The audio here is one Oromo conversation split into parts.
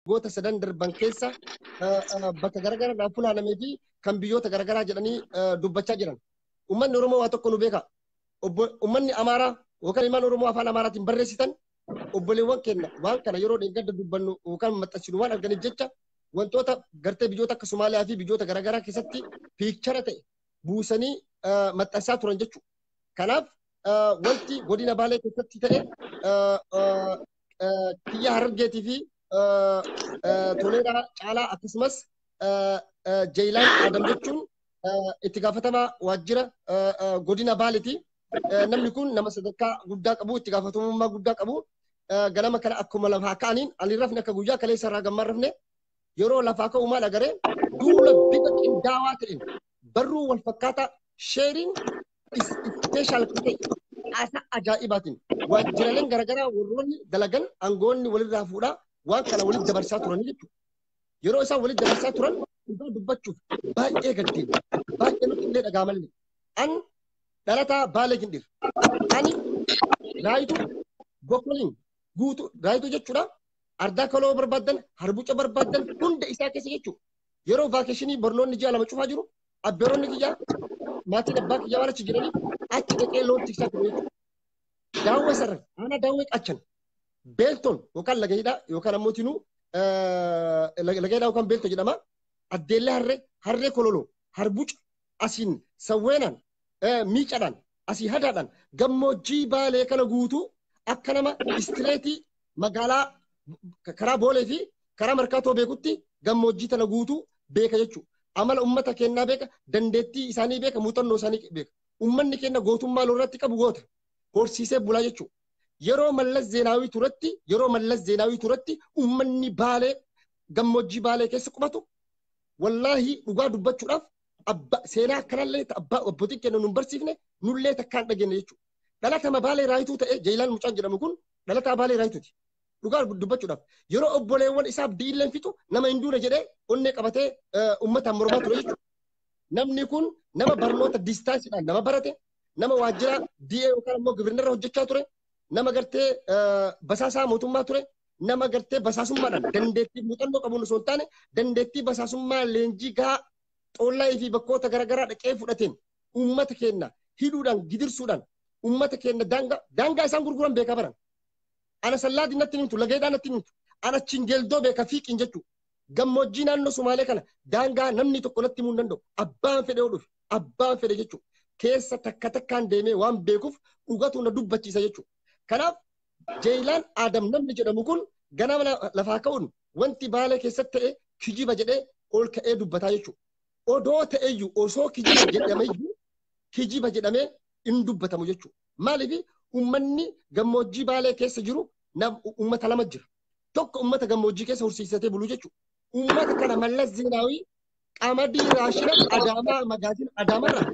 waggoota sadan darban keessa bakka garaagaraadhaan funaanamee fi kan biyyoota garaagaraa jedhanii dubbachaa jiran. Uummanni Oromoo waa tokko nu beeka. Uummanni Amaaraa yookaan ilmaan Oromoo afaan Amaaraatiin barreessitan obboleewwan keenya waan kana yeroo deeggarda dubbannu yookaan maxxansinu waan arganiif jecha wantoota gartee biyyoota akka Somaaliyaa fi biyyoota garaagaraa keessatti piikchara ta'e buusanii maxxansaa turan jechuudha. Kanaaf wanti godina Baalee keessatti ta'e kiyya Harargeetii fi Toleeraa caalaa akkasumas Jeeyilaan Adam jechuun itti gaafatamaa waajjira godina Baaleeti. Namni kun nama sadarkaa guddaa qabu, itti gaafatamummaa guddaa qabu. Ganama kana akkuma lafaa ka'aniin ani rafne akka guyyaa kaleessa irraa gammaan rafne yeroo lafaa ka'u maal agaree duula bifa qindaawaa ta'een barruu wal fakkaataa sheeriin ispeeshaal kan ta'e haasaa ajaa'ibaatiin waajjiraaleen garaagaraa warroonni dalagan aangoonni walirraa fuudhaa waan kana walitti dabarsaa turan jechuudha. Yeroo isaan walitti dabarsaa turan dhugaa dubbachuuf baay'ee gaddeen baay'ee nutti illee dhagaamallee. An dhalataa baalee gindhir. Ani raayituu bokkoliin guutuu raayituu jechuudha. Ardaa kaloo barbaaddan harbuca barbaaddan hunda isaa keessa jechuudha. yeroo vaakeshinii barnoonni ji'a lama cufaa jiru abbeeronni kiyyaa maatiin abbaa kiyyaa waan achi jiraniif achi dhaqee loon tiksaa ture jechuudha. Daawwee sarara aanaa daawwee qachan beeltoon yookaan laga hidhaa yookaan ammoo tinuu laga hidhaa yookaan beeltoo jedhama addeellee harree harree kololoo harbuca asiin sawweenan miicadhan asii hadaadhan gammoojjii baalee kana guutuu akka nama istireetii magaalaa karaa boolee fi karaa markaatoo beekutti gammoojjii tana guutuu beeka jechuudha. Amala uummata keenyaa beeka, dandeettii isaanii beeka, muuxannoo isaanii beeka. Uummanni keenya gootummaa lolratti qabu goota. Horsiisee bulaa jechuudha. Yeroo mallas zeenaawii turetti, yeroo mallas zeenaawii turetti uummanni baalee gammoojjii baalee keessa qubatu Wallaahi dhugaa dubbachuudhaaf abba seenaa akkanallee ta- abbaa abbootiin keenya nun barsiifne nullee takkaan dhageenye jechuudha. Dhalatama baalee raayituu ta'e Jayilaan Mucaan jedhamu kun dhalataa baalee raayituuti. Dhugaa dubbachuudhaaf yeroo obboleewwan isaa abdiilleen fixu nama hin duune jedhee onnee qabatee eh, uummataan mormaa ture jechuudha. Namni kun nama barnoota distaansiidhaan nama barate nama waajjira DA yookaan immoo gibirnarra hojjechaa ture nama gartee eh, basaasaa mootummaa ture nama gartee basaasummaadhaan dandeettii muuxannoo qabuun osoo hin taane dandeettii basaasummaa leenjii gahaa xoollaa fi bakkoota garaagaraa dhaqee fudhateen uummata keenya hidhuudhaan gidirsuudhaan uummata keenya daangaa daangaa isaan gurguran beekaa baran. Ana sallaati natti himtu lageedhaa natti himtu ana chingeeldoo beeka fiiqiin jechuu gammoojjii naannoo Sumaalee kana daangaa namni tokko natti himuu hin danda'u abbaan fedhe hodhuuf abbaan fedhe jechuu keessa takka takkaan deemee waan beekuuf dhugatu na dubbachiisa jechuu. Kanaaf Jeeyilaan Aadam namni jedhamu kun ganama lafaa ka'uun wanti baalee keessatti ta'e kijiba jedhee ol ka'ee dubbataa jechuudha. Odoo ta'eyyuu osoo kijiba jedhameyyuu kijiba jedhamee hin dubbatamu jechuudha. Maaliif uummanni gammoojjii baalee keessa jiru uummata lama jira. Tokko uummata gammoojjii keessa horsiisatee bulu jechuudha. Uummata kana mallas zeenaawii qamadii raashina adaamaa magaatiin adaamarraa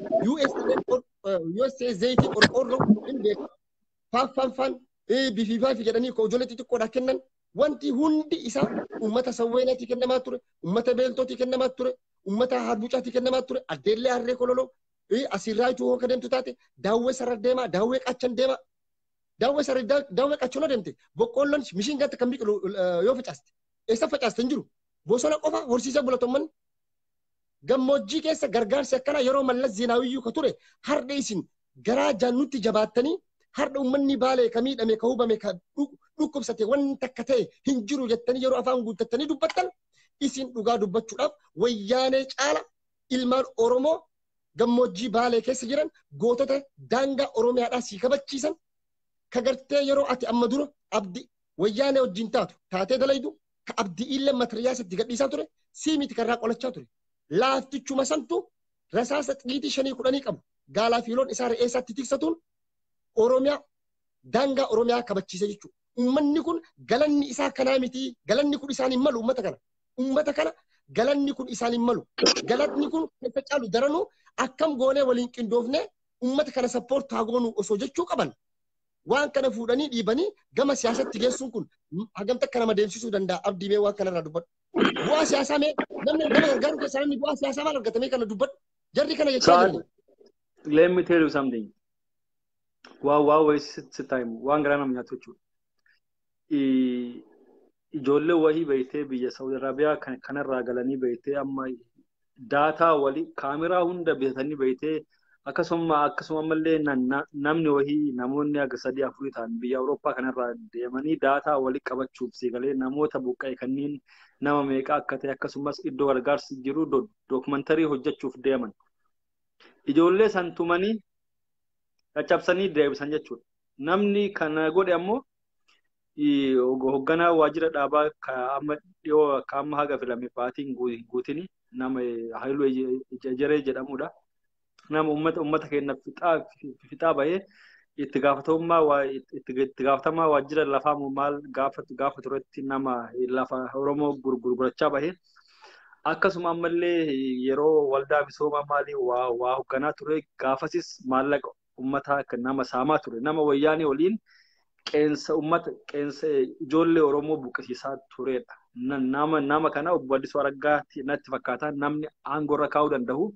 USA zayitii qorqoorroo hin beeku. faaffanfan bififaafi jedhanii koo ijoollee xixiqqoodha kennan wanti hundi isaa uummata sawweenaati kennamaa ture uummata beeltooti kennamaa ture uummata harbucaati kennamaa ture addeellee harree kololoo asirraa ituu hooka deemtu taate daawwee sarara deemaa daawwee qachan deemaa daawwee sarara daawwee qachan deemte boqqoolloon mishiin gatta kan biqilu yoo facaaste eessa facaaste hin jiru bosona qofa horsiisee bulatoomman gammoojjii keessa gargaarsi akkanaa yeroo mallas zeenaawiyyuu ka ture hardha isin garaa jaannutti jabaattanii hardha ummanni baalee ka miidhame ka hubame ka dhukkubsate wanni takka ta'e hin jiru jettanii yeroo afaan guuttattanii dubbattan isin dhugaa dubbachuudhaaf wayyaanee caala ilmaan Oromoo gammoojjii baalee keessa jiran gootota daangaa Oromiyaadhaa sii kabachiisan ka gartee yeroo ati amma dura abdi wayyaanee wajjin taatu taatee dalaydu ka abdi'iillee matiriyaasa itti gadhiisaa ture sii miti karraa qolachaa ture laaftichuma santu rasaasa xiyiitii shanii kudhanii qabu gaalaa fi loon isaa re'ee isaatti tiksatuun oromiyaa daangaa oromiyaa kabachiise jechuudha. Uummanni kun galanni isaa kanaa miti galanni kun isaan hin malu uummata kana. Uummata kana galanni kun isaan hin malu. Galatni kun keessa caalu daranuu akkam goonee waliin qindoofnee uummata kana sappoortu haa goonu osoo jechuu qaban waan kana fuudhanii dhiibanii gama siyaasatti geessuun kun hagam takka nama deemsisuu danda'a abdii mee waan kanarraa dubbadhu. Bu'aa siyaasaa mee namni nama gargaaru keessaa namni bu'aa siyaasaa maal argatamee kana dubbadhu. Jarri kana jechaa Saad, jiru. let me tell you something. Waa waa wayii sitti sitti himu. Waan garaa nama nyaatu jechuudha. ijoollee wahii beektee biyya Saudi Arabiyaa kan kanarraa galanii beektee amma daataa wali kaameraa hunda bitatanii beektee akkasuma akkasuma ammallee na- na- namni wahii namoonni akka sadii afurii ta'an biyya Awurooppaa kanarraa deemanii daataa wali qabachuuf si galee namoota buqqa'e kanneen nama meeqa akka ta'e akkasumas iddoo gargaarsi jiru do- dookumantarii hojjechuuf deeman. Ijoollee san tumanii caccabsanii deebisan jechuudha. Namni kana godhe ammoo hogganaa waajjira dhaabaa amma dhiyoo akka amma haga filame baatiin guutini nama Haayiluu Ejeree jedhamudha. Nama uummata uummata keenya fixaa bahee itti gaafatamummaa itti gaafatamaa waajjira lafaa maal gaafatu gaafa turetti nama lafa Oromoo gurgurachaa bahee Akkasuma ammallee yeroo waldaa misoomaa maalii waa, waa hoogganaa ture gaafasis maallaqa ummataa akka nama saamaa ture. Nama wayyaanee waliin qeensa ummata qeensa ijoollee Oromoo buqqisiisaa turedha. Na- Nama, nama kana obbo Addisuu Araggaa ti- natti fakkaata namni aangoo irra kaa'uu danda'u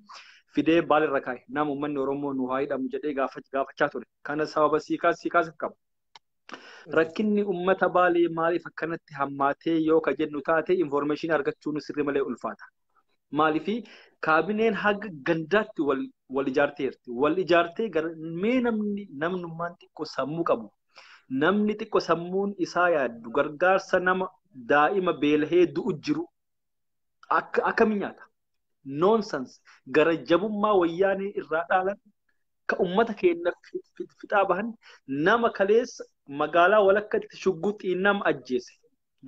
fidee baal irra kaa'e nama ummanni Oromoo nu haa hidhamu jedhee gaafach- gaafachaa ture. Kana sababa sii kaas- sii kaasuuf qaba. Rakkinni uummata baalee maaliif akkanatti hammaatee yoo ka jennu taate infoormeeshinii argachuun sirri malee ulfaata. Maaliif kaabineen haga gandaatti wal ijaarteerti. Wal ijaartee mee namni namnummaan xiqqoo sammuu qabu. Namni xiqqoo sammuun isaa yaaddu gargaarsa nama daa'ima beelahee du'u jiru akkamiin nyaata? nonsense gara jabummaa wayyaanee irraa dhaalan ka ummata keenya fixaa bahan nama kaleessa magaalaa walakkatti shugguxii nama ajjeese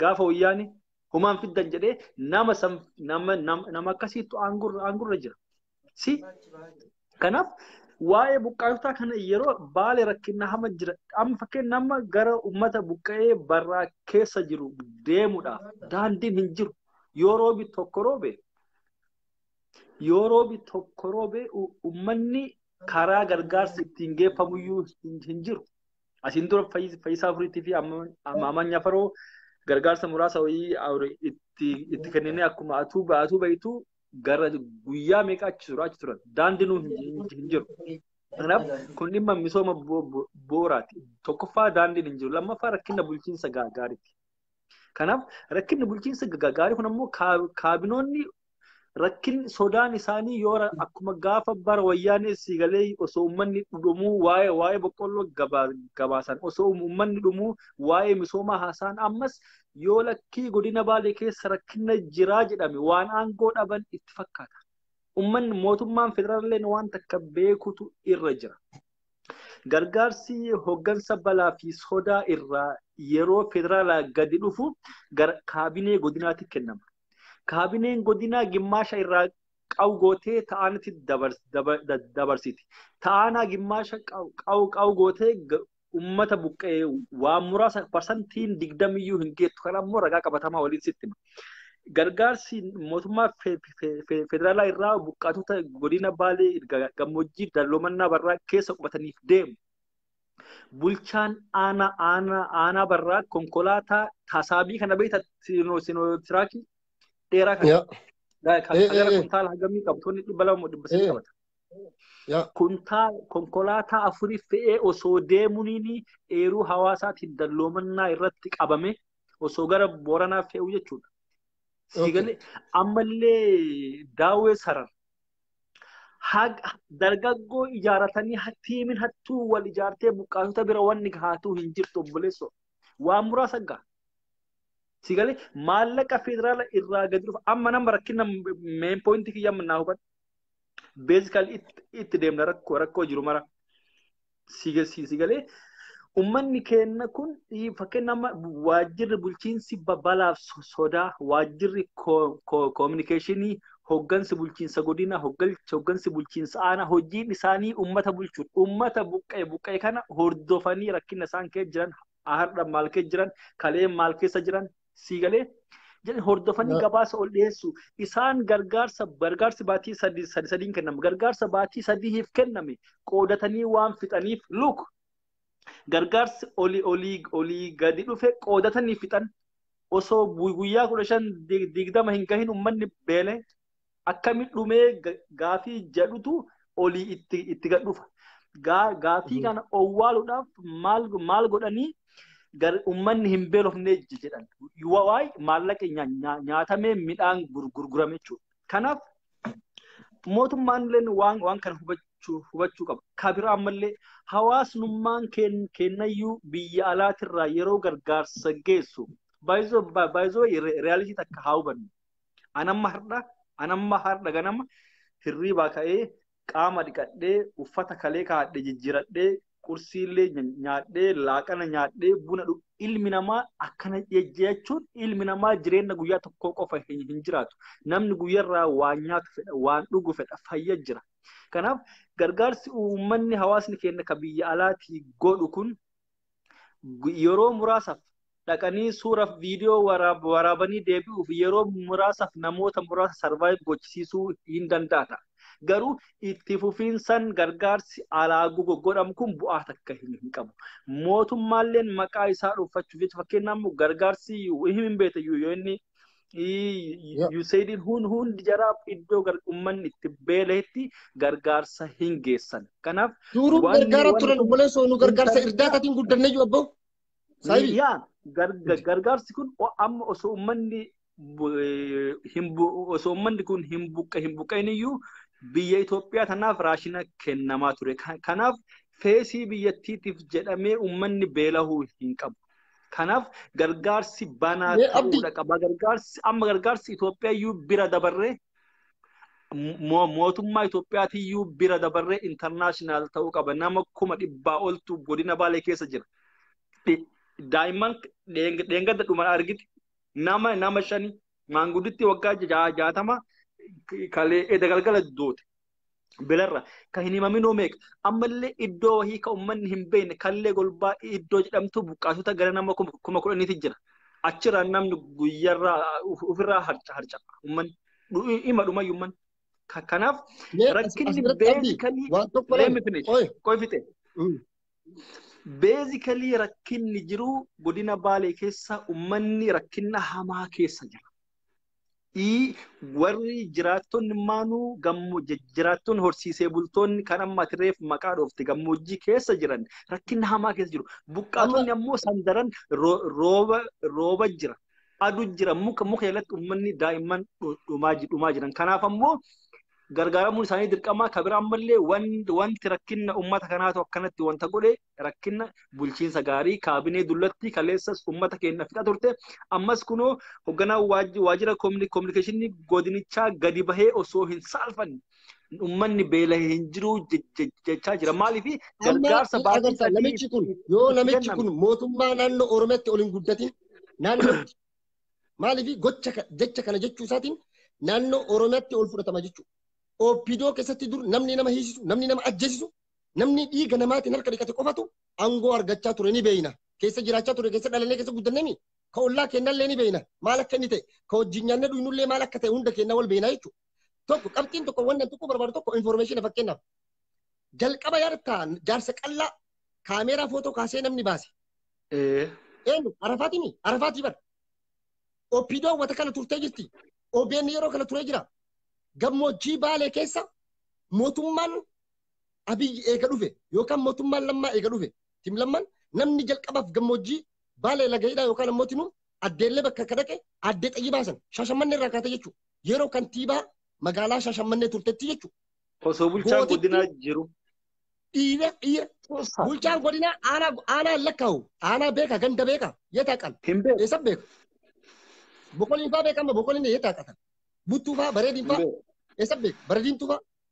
gaafa wayyaanee humaan fiddan jedhee nama san nama nama akkasiittu aangurra aangurra jira. Si Kanaaf waa'ee buqqaatotaa kana yeroo baale rakkinna hama jira. Amma fakkeenya nama gara uummata buqqa'ee barraa keessa jiru deemuudhaaf daandiin hin jiru. Yoo roobi tokko roobe yoo roobi tokko roobe uummanni karaa gargaarsi ittiin geeffamuyyuu hin jiru. Asiin dura fayyisaa afuriitii fi ammaamanya faroo gargaarsa muraasa wayii itti kenninee akkuma atuu ba'atuu ba'ituu gara guyyaa meeqa achi tura achi turan daandii nuun hin jiru. Kanaaf kun dhimma misooma bu'uuraati. Tokkoffaa daandiin hin jiru. Lammaffaa rakkina bulchiinsa gaariiti. Kanaaf rakkinni bulchiinsa gaarii kun ammoo kaabinoonni rakkin sodaan isaanii yoo akkuma gaafa bara wayyaanee sii galee osoo uummanni dhumuu waa'ee waa'ee boqqolloo gabaasan osoo uummanni dhumuu waa'ee misoomaa haasaan ammas yoo lakkii godina baalee keessa rakkina jiraa jedhame waan aangoo dhaban itti fakkaata. Ummanni mootummaan federaalleen waan takka beekutu irra jira. Gargaarsi hoggansa balaa fi sodaa irraa yeroo federaalaa gadi dhufu gara kaabinee godinaatti kennama. Kaabineen godinaa gimmaasha irraa qawu gootee ta'anitti dabarsiti. Ta'anaa gimmaasha qawu gootee ummata buqqa'ee waan muraasa parsantiin digdamiyyuu hin geettu kan ammoo ragaa qabatamaa waliin sitti hima. Gargaarsi mootummaa fe- fe- fe- federaalaa irraa buqqaatota godina Baalee ga- gammoojjii dalloomannaa barraa keessa qubataniif deemu. Bulchaan aanaa aanaa aanaa barraa konkolaataa tasaabii kana beekta sinotiraakii dheeraa kana. Yaa. Ga- ka- Eh, ka gara eh, eh. kuntaala hagamii qabtoonni dhibba lama moo dhibba sadii Eh. qabata. kuntaa konkolaataa afurii fe'ee osoo deemuniin eeruu hawaasaatiin dalloomannaa irratti qabame osoo gara Booranaa fe'uu jechuudha. Siigalee ammallee daawwee saran dargaggoo ijaaratanii tiimiin hattuu wal ijaartee buqqaatota bira wanni gahaatuu hin jirtu obboleessoo. Waan muraasa gaha. Siigalee maallaqa federaala irraa gadi dhufa amma nama rakkina meen poointii kiyya amma naa hubadhu. beezikaal itti deemna rakkoo rakkoo jiru mara si galee ummanni keenna kun fakkeenya amma waajjirri bulchiinsi balaaf sodaa waajjirri koominikeeshinii hoggansi bulchiinsa godina hoggansi bulchiinsa aanaa hojiin isaanii ummata bulchuun ummata buqqee buqqee kana hordofanii rakkina isaan keessa jiran har'a maal keessa jiran kalee maal keessa jiran sii galee jedhe hordofanii Yoo- gabaasa ol dhiyeessu isaan gargaarsa gargaarsi baatii sadii sadii sadiin kenname gargaarsa baatii sadiif kenname qoodatanii waan fixaniif look gargaarsi olii olii olii gadi dhufe qoodatanii fixan osoo bu- guyyaa kudha shan dig- digdama hin gahin ummanni beele akkami dhumee gaafii jedhutu olii itti itti gad dhufa. Gaafii kana owwaaluudhaaf maal maal godhanii ummanni hin beelofnee jedhan. Waa'ee maallaqa nyaatamee midhaan gurgurame jechuudha. Kanaaf mootummaan illee waan waan kana hubachuu hubachuu qaba. Kabira ammallee hawaasnummaan kennayyuu biyya alaatirraa yeroo gargaarsa geessu baay'isoo baay'isoo reyaalitii takka haa hubannu. An amma hardha an amma hardha ganama hirriibaa ka'ee qaama dhiqadhee uffata kalee kaa'adhe jijjiiradhee qursiillee nya- nyaadhee laaqana nyaadhee buna dhug ilmi namaa akkana jejjeechuun ilmi namaa jireenya guyyaa tokkoo qofa hin hin jiraatu namni guyyarraa waan nyaatu fedha waan dhugu fedha fayya jira kanaaf gargaarsi uummanni hawaasni keenya ka biyya alaatii godhu kun yeroo muraasaaf dhaqanii suuraaf viidiyoo waraabanii deebi'uuf yeroo muraasaaf namoota muraasa sarvaayiv gochisiisuu hin danda'ata. Garuu itti fufiinsan gargaarsi alaa godhamu kun bu'aa takka hin qabu. Mootummaalleen maqaa isaa dhuunfachuuf jecha fakkeenyaaf gargaarsi hin beekne yoo inni Yeah. You said it, hun hundi jaraa iddoo gar- ummanni itti beeleetti gargaarsa hin geessan. Kanaaf Duruu Wanni- gargaara wanni turan kun- obboleessoo nu gargaarsa Intarneetaa- irdaataatiin guddannayyu abboo. Saayibii. yaa garga- gargaarsi kun o- amma osoo ummanni bu- eh, hin bu- osoo ummanni kun hin buqqe hin buqqeen iyyuu biyya Itoophiyaa tanaaf raashina kennamaa ture. Ka- Kanaaf feesii biyyattiitiif jedhamee ummanni beelahuu hin qabu. Kanaaf gargaarsi banaa Mee abdi- ta'uudha qaba. Gargaarsi amma gargaarsi Itoophiyaa iyyuu bira dabarree mo- mootummaa Itoophiyaati iyyuu bira dabarree intarnaashinaal ta'uu qaba. Nama kuma dhibbaa oltu godina Baalee keessa jira. Dhi- Daa'imman dheeng- dheengadda dhuman argite nama nama shani maangudditti waggaa ja- jaatama kalee edda galgala doote. bilarra kan hin himaminoo meeqa ammallee iddoo wahii kan uummanni hin beekne kallee golbaa iddoo jedhamtu buqqaasota gara nama kuma kudhaniiti jira. Achirraa namni guyyarraa ofirraa harca uummanni dhuma dhuma uummanni. Kanaaf rakkinni beezikalii leemifne qoifite. Beezikalii rakkinni jiru godina baalee keessa uummanni rakkinna hamaa keessa jira. Ii warri jiraattonni maanuu gammo jiraattonni horsiisee bultoonni kan amma ati reef maqaa dhoofte gammoojjii keessa jiran rakkina hamaa keessa jiru. Buqqaatonni ammoo sandaran ro- rooba rooba jira. Adu jira muka muka jalatti uummanni daa'imman dhu- dhumaa ji- dhumaa jiran. Kanaaf ammoo gargaaramuun isaanii dirqamaa kabira ammallee wan- wanti rakkina uummata kanaatu akkanatti wanta godhe rakkinna bulchiinsa gaarii kaabinee dullattii kaleessas uummata keenya fixa turte ammas kunoo hogganaa waajjira koominikeeshinii godinichaa gadi bahee osoo hin saalfanne uummanni beela'ee hin jiru jechaa jira maaliif gargaarsa baasii namichi kun yoo namichi kun mootummaa naannoo oromiyaatti ol hin guddatin naannootti maaliif gocha jecha kana jechuu isaatiin naannoo oromiyaatti ol fudhatama jechuudha. Oopidoo keessatti dur namni nama hiisisu namni nama ajjeesisu Namni dhiiga namaatiin harka dhiqate qofatu aangoo argachaa ture ni beeyna. Keessa jiraachaa ture keessa dhalannee keessa guddannemi. Ka ollaa keennallee ni beeyna. Maal akka inni ta'e ka wajjin nyaannee dhugnullee maal akka ta'e hunda keennaa wal beeyna jechuudha. Tokko qabxiin tokko wanna tokko barbaadu tokko information fakkeenyaaf. Jalqaba yaadata jaarsa qallaa kaameeraa footoo kaasee namni baase. Ee. Eenyu arafaatii mi? Arafaatii bar. Oppiidoo hawwata kana turtee jirti. OBN yeroo kana turee jira. Gammoojjii baalee keessa mootummaan Abiyyi eega dhufe yookaan mootummaan lammaa eega dhufe tim lamman namni jalqabaaf gammoojjii baalee laga hidhaa yookaan ammoo tinuu addeellee bakka akka dhaqe addee xayyibaa san shaashammannee irraa kaatee jechuudha. Yeroo kantiibaa magaalaa shaashammannee turtetti jechuudha. Osoo bulchaan Gootitti- godinaa jiru. Dhiira dhiira Keessaa. bulchaan godinaa aanaa aanaa hin lakkaa'u aanaa beeka ganda beeka yetaa qal Hin beeku. eessa beeka boqoliin faa beekama boqoliin yetaa qatan buttuu faa bareediin Hin faa beeku. eessa beeka bareediin tufaa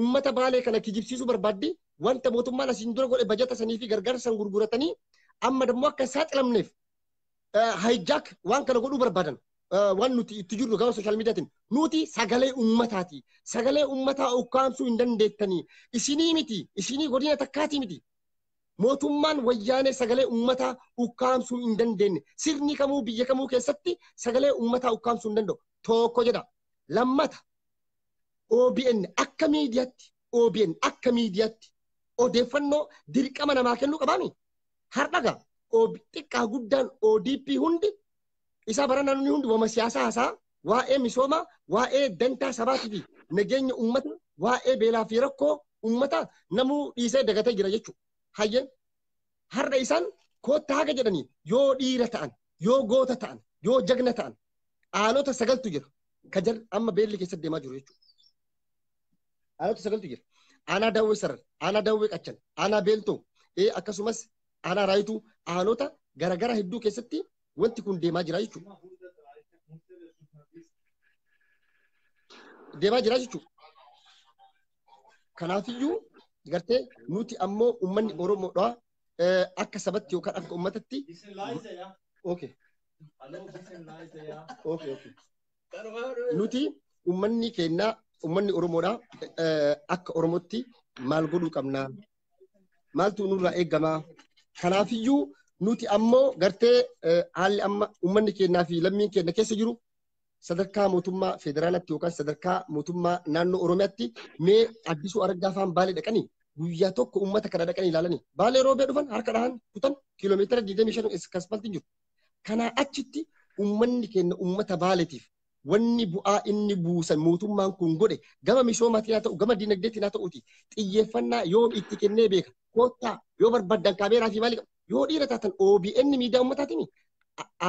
ummata baalee kana kijibsiisuu barbaaddi wanta mootummaan asiin dura godhe bajata sanii fi gargaarsa san gurguratanii amma dammoo akka hin saaxilamneef hijack waan kana godhuu barbaadan waan nuti itti jirru gama sooshaal miidiyaatiin nuti sagalee ummataati sagalee ummataa ukkaamsuu hin dandeettanii isinii miti isinii godina takkaatii miti mootummaan wayyaanee sagalee ummataa ukkaamsuu hin dandeenye sirni kamuu biyya kamuu keessatti sagalee ummataa ukkaamsuu hin danda'u tokko jedha lammata OBN akka miidiyaatti OBN akka miidiyaatti odeeffannoo dirqama namaa kennuu qabaami. Har'a gaa xiqqaa guddaan ODP hundi isaa bara naannoo hundi wama siyaasaa hasaa waa'ee misoomaa waa'ee dantaa sabaatii fi nageenya uummata waa'ee beelaa fi rakkoo uummata namuu dhiisee dagatee jira jechuudha. Hayyee har'a isaan koottaa haga jedhanii yoo dhiira ta'an yoo goota ta'an yoo jagna ta'an aanota sagaltu jira ka jar amma beelli keessatti deemaa jiru jechuudha. Aanota sagaltu jira. Aanaa daawwee sarar, aanaa daawwee qachan, aanaa beeltoo ee akkasumas aanaa raayituu aanota garaagaraa hedduu keessatti wanti kun deemaa jira jechuudha. Deemaa jira jechuudha. Kanaafiyyuu gartee nuti ammoo uummanni Oromoodha eh, akka sabatti yookaan akka uummatatti. Okay. Okay, okay. Nuti uummanni keenya uummanni Oromoodha eh, akka Oromootti maal godhuu qabna? Maaltu nurraa eegama? Kanaafiyyuu nuti ammoo gartee eh, haalli amma uummanni keenyaa fi lammiin keenya keessa jiru sadarkaa mootummaa federaalatti yookaan sadarkaa mootummaa naannoo Oromiyaatti mee addisuu argaa faan baalee dhaqanii guyyaa tokko uummata kana dhaqanii ilaalanii baalee roobee dhufan harka dhahan kutan kiiloomeetira 25 iskaspaltiin jiru. Kanaa achitti uummanni keenya uummata baaleetiif wanni bu'aa inni buusan mootummaan kun godhe gama misoomaatiin haa ta'u gama dinagdeetiin haa ta'uuti xiyyeeffannaa yoo itti kennee beeka koottaa yoo barbaadan kaameeraa fi maali Yoo dhiira taatan OBN miidiyaa uummataatiin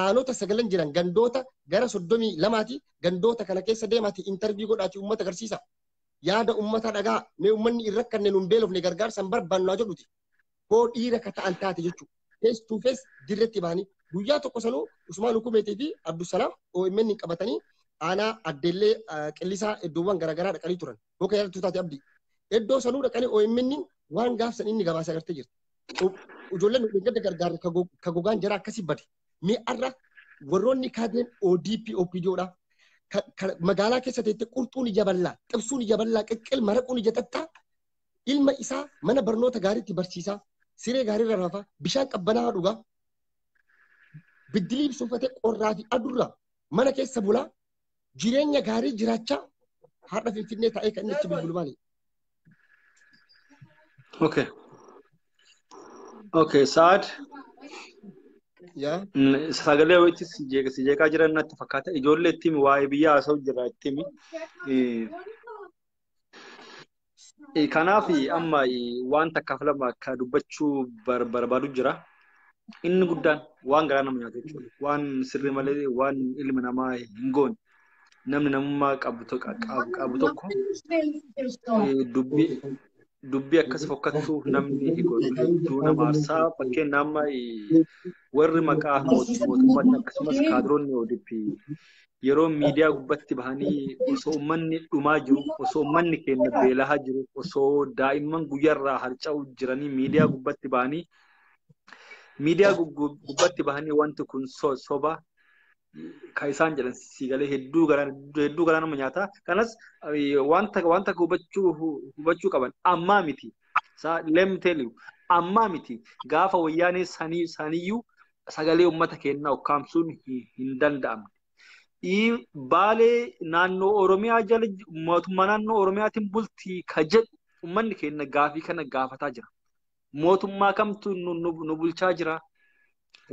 aanota sagalan jiran gandoota gara soddomii lamaati gandoota kana keessa deemaati intarvii godhaati uummata agarsiisa. Yaada uummataa dhagaa mee uummanni hin rakkanne nuun beelofne gargaarsa hin barbaannu naa jedhuti. Koo dhiira ka ta'an taate jechuudha. Face to face dirretti bahanii guyyaa tokko sanuu Usmaan Hukumeetii fi Abdusalaam OMN qabatanii aanaa addeellee qillisaa iddoowwan garaagaraa dhaqanii turan. Boka yaaltuu taate abdii. Iddoo sanuu dhaqanii OMN waan gaafsan inni gabaasa agartee jirti. Ijoolleen gadda gargaarre ka gogaan jara akkasii bade. Mee arra warroonni kaadeen ODP OPDOdha. Magaalaa keessa teette qurxuun ija bal'aa, xibsuun ija bal'aa, qeqqel maraquun ija xaxxaa ilma isaa mana barnoota gaariitti barsiisaa, siree gaariirra rafaa, bishaan qabbanaa dhugaa, biddilii ibsuufatee qorraa fi adurraa mana keessa bulaa jireenya gaarii jiraachaa har'a Finfinnee taa'ee kan inni itti bilbilu maali? Okay. Okay, Sa'ad Yaa mm, sagalee wayitti si jeeqa- si jeeqaa jiran natti fakkaata. Ijoollee itti himi waa'ee biyyaa haasa'u jira itti himi. Eh, Eh, Kanaaf amma eh, waan takkaaf lama akka dubbachuu bar- barbaadu jira. Inni guddaan waan garaa nama nyaatu jechuudha. Waan sirrii malee waan ilmi namaa hin goone. Namni namummaa qabu to- qabu qabu tokko eh, dubbii dubbii akkas fokkattuu namni hin godhu hedduu nama aarsaa fakkeenya amma eh, warri maqaa moot- mootummaatti akkasumas kaadiroonni ODP yeroo miidiyaa gubbatti bahanii osoo ummanni dhumaa jiru osoo ummanni keenya beelahaa jiru osoo daa'imman guyyarraa harca'u jiranii miidiyaa gubbatti bahanii miidiyaa gubbatti bahanii wanti kun soba kan isaan jedhan siigalee hedduu garaa hedduu garaa nama nyaata kanas wanta wanta hubachuu hubachuu qaban ammaa miti let me tell you ammaa miti gaafa wayyaanee sanii saniyyuu sagalee uummata keenyaa ukkaamsuun hin danda'amne. Baalee naannoo Oromiyaa jala mootummaa naannoo Oromiyaatiin bultii ka jedhu uummanni keenya gaafii kana gaafataa jira. Mootummaa kamtu nu bulchaa jira?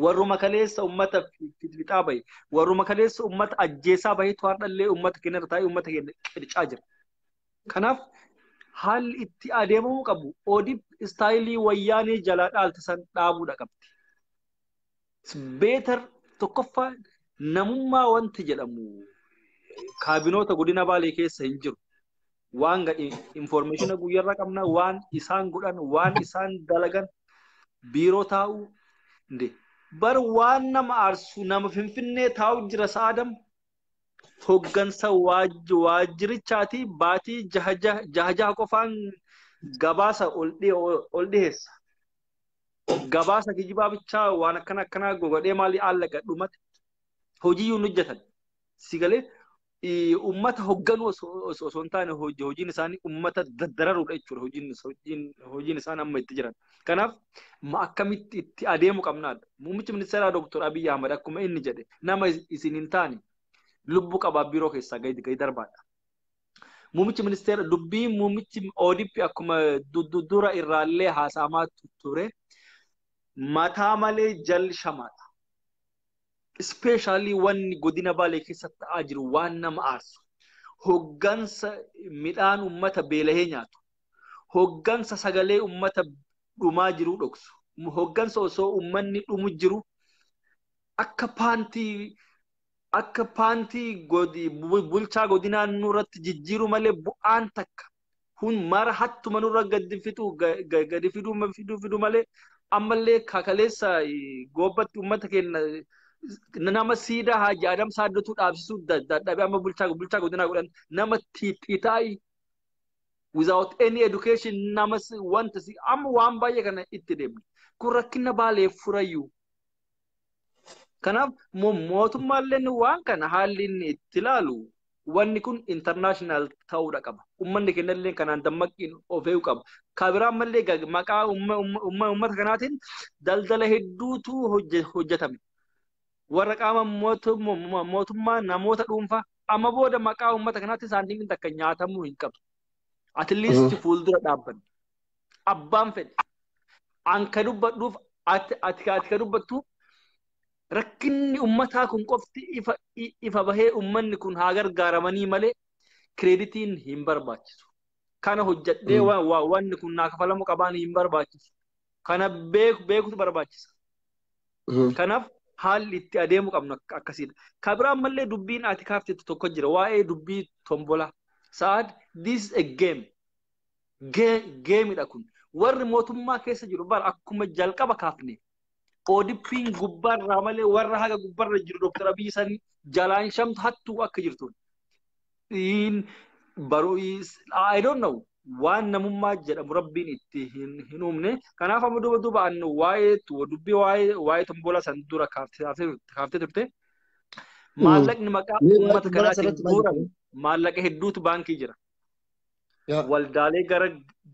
Warruma kaleessa uummata fixaa bahe, warruma kaleessa uummata ajjeesaa bahetu har'allee uummata keenya irra taa'ee uummata keenya qircaa jira. Kanaaf haalli itti adeemamuu qabu ODP istaayilii wayyaanee jalaa dhaalte san dhaabuudha qabdi. Beetar tokkoffaa namummaa wanti jedhamu kaabinoota godina baalee keessa hin jiru. Waan gadhi infoormeeshina guyyarra qabna waan isaan godhan waan isaan dalagan biiroo taa'u bar waan nama aarsu nama finfinnee taa'u jira sa'aadam hoggansa waaj- waajjirichaati baatii jaha jaha jaha jaha qofaan gabaasa ol dhi- ol dhiheessa. Gabaasa kijibaa bichaa waan akkana akkanaa gogodhee maalii aallaqa dhumate hojiyyuu hin hojjetan. Si galee eh, uummata hogganuu osoo osoo- osoo hin taane hoji- hojiin isaanii uummata daddararuudha jechuudha hojiin is- hojiin hojiin isaan amma itti jiran. Kanaaf ma akkamitti itti adeemu qabnaadha. Muummichi ministeeraa Dooktor Abiy Ahmad akkuma inni jedhe nama isin hin taane lubbu qabaa biiroo keessaa gadi gadi darbaadha. Muummichi ministeera dubbii muummichi ODP akkuma dura irraallee haasa'amaa ture mataa malee jal shamaadha. Ispeeshaalii wanni godina Baalee keessatti ta'aa jiru waan nama aarsu. Hoggansa midhaan uummata beelahee nyaatu. hoggansa sagalee ummata dhumaa jiruu dhoksu. Hoggansa osoo ummanni dhumu jiru akka paantii akka paantii bulchaa godinaa nurratti jijjiiru malee bu'aan takka kun mara hattuma nurra gadi fixu gadi fiduu fiduu fiduu malee ammallee kakaleessa goobbatti uummata keenya nama siidaa haaji adam saaddotuu dhaabsisuu dadhabe amma bulchaa bulchaa godinaa godhan nama tiixiitaa'i without any education nama si- wanta si amma waan baay'ee kana itti deemne kun rakkina baaleef furayyuu kanaaf mo- mootummaalleen waan kana haalli inni itti ilaalu wanni kun international ta'uudha qaba ummanni kennallee kanaan dammaqiin of eeguu qaba kabiraan mallee gag- maqaa umma- umma- umma- ummata kanaatiin daldala hedduutu hojje- hojjetame warra qaama mootummaa namoota dhuunfaa amma booda maqaa uummata kanaatti saantiimiin takka nyaatamuu hin qabu. Atiliisti fuuldura dhaabbanne. Abbaan fedhe. An ka dubbadhuuf ati ati ka dubbattu rakkinni uummataa kun qofti ifa ifa bahee uummanni kun haa gargaaramanii malee kireeditiin hin barbaachisu. Kana hojjedhee wanni kun naa kafalamu qabaan hin barbaachisu. Kana beek- beekutu barbaachisa. Mhm. Kanaaf haalli itti adeemu qabnu ak- akkasiidha. Ka biraa ammallee dubbiin ati kaaftetti tokko jira. Waa'ee dubbii tombolaa. Sa'aad, this is a game. Ge- Geemidha kun. Warri mootummaa keessa jiru bara akkuma jalqaba kaafne. Oodippiin gubbaarraa malee warra haga gubbarra jiru Dr. Abiyyi sanii jalaan shamtu hattuu akka jirtu. dhiin baruu I don't know waan namummaa jedhamu rabbiin itti hin hin uumne kanaaf amma duuba duuba an waa'ee tu- dubbii waa'ee waa'ee tomboolaa san dura kaaftee kaaftee- kaaftee turte maallaqni maqaa Mee waa'ee uummata tomboolaa kanaatiin sanatti maal guurame jettee? maallaqa hedduutu baankii jira Yaa. waldaalee gara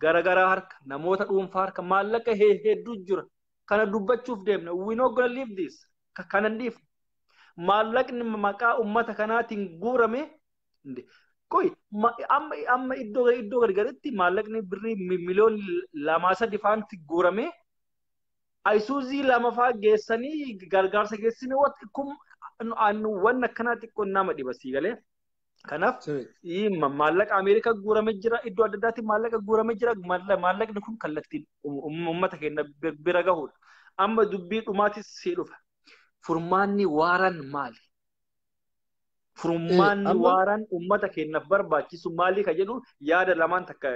gara garaa harka namoota dhuunfaa harka maallaqa he- hedduu jira kana dubbachuuf deemna we not gonna leave this Ka- kana hin dhiifnu maallaqni maqaa ummata kanaatiin guurame hin dhi- qoy ma- amma amma iddoo iddoo gargaritti maallaqni birrii mi- miliyoon lamaa sadi faanti guurame ayisuuzii lamafaa geessanii gargaarsa geessanii wat- kun an- wanni akkanaa xiqqoon nama dhiba sii galee Kanaaf maallaqa Ameerikaa guurame jira, iddoo adda addaatti maallaqa guurame jira, maallaqni kun kallattiin uummata keenya bira gahudha. Amma dubbii dhumaatis si dhufa. Furmaanni waaraan maali? Furmaanni waaraan uummata keenyaaf barbaachisu maali ka jedhu yaada lamaan takka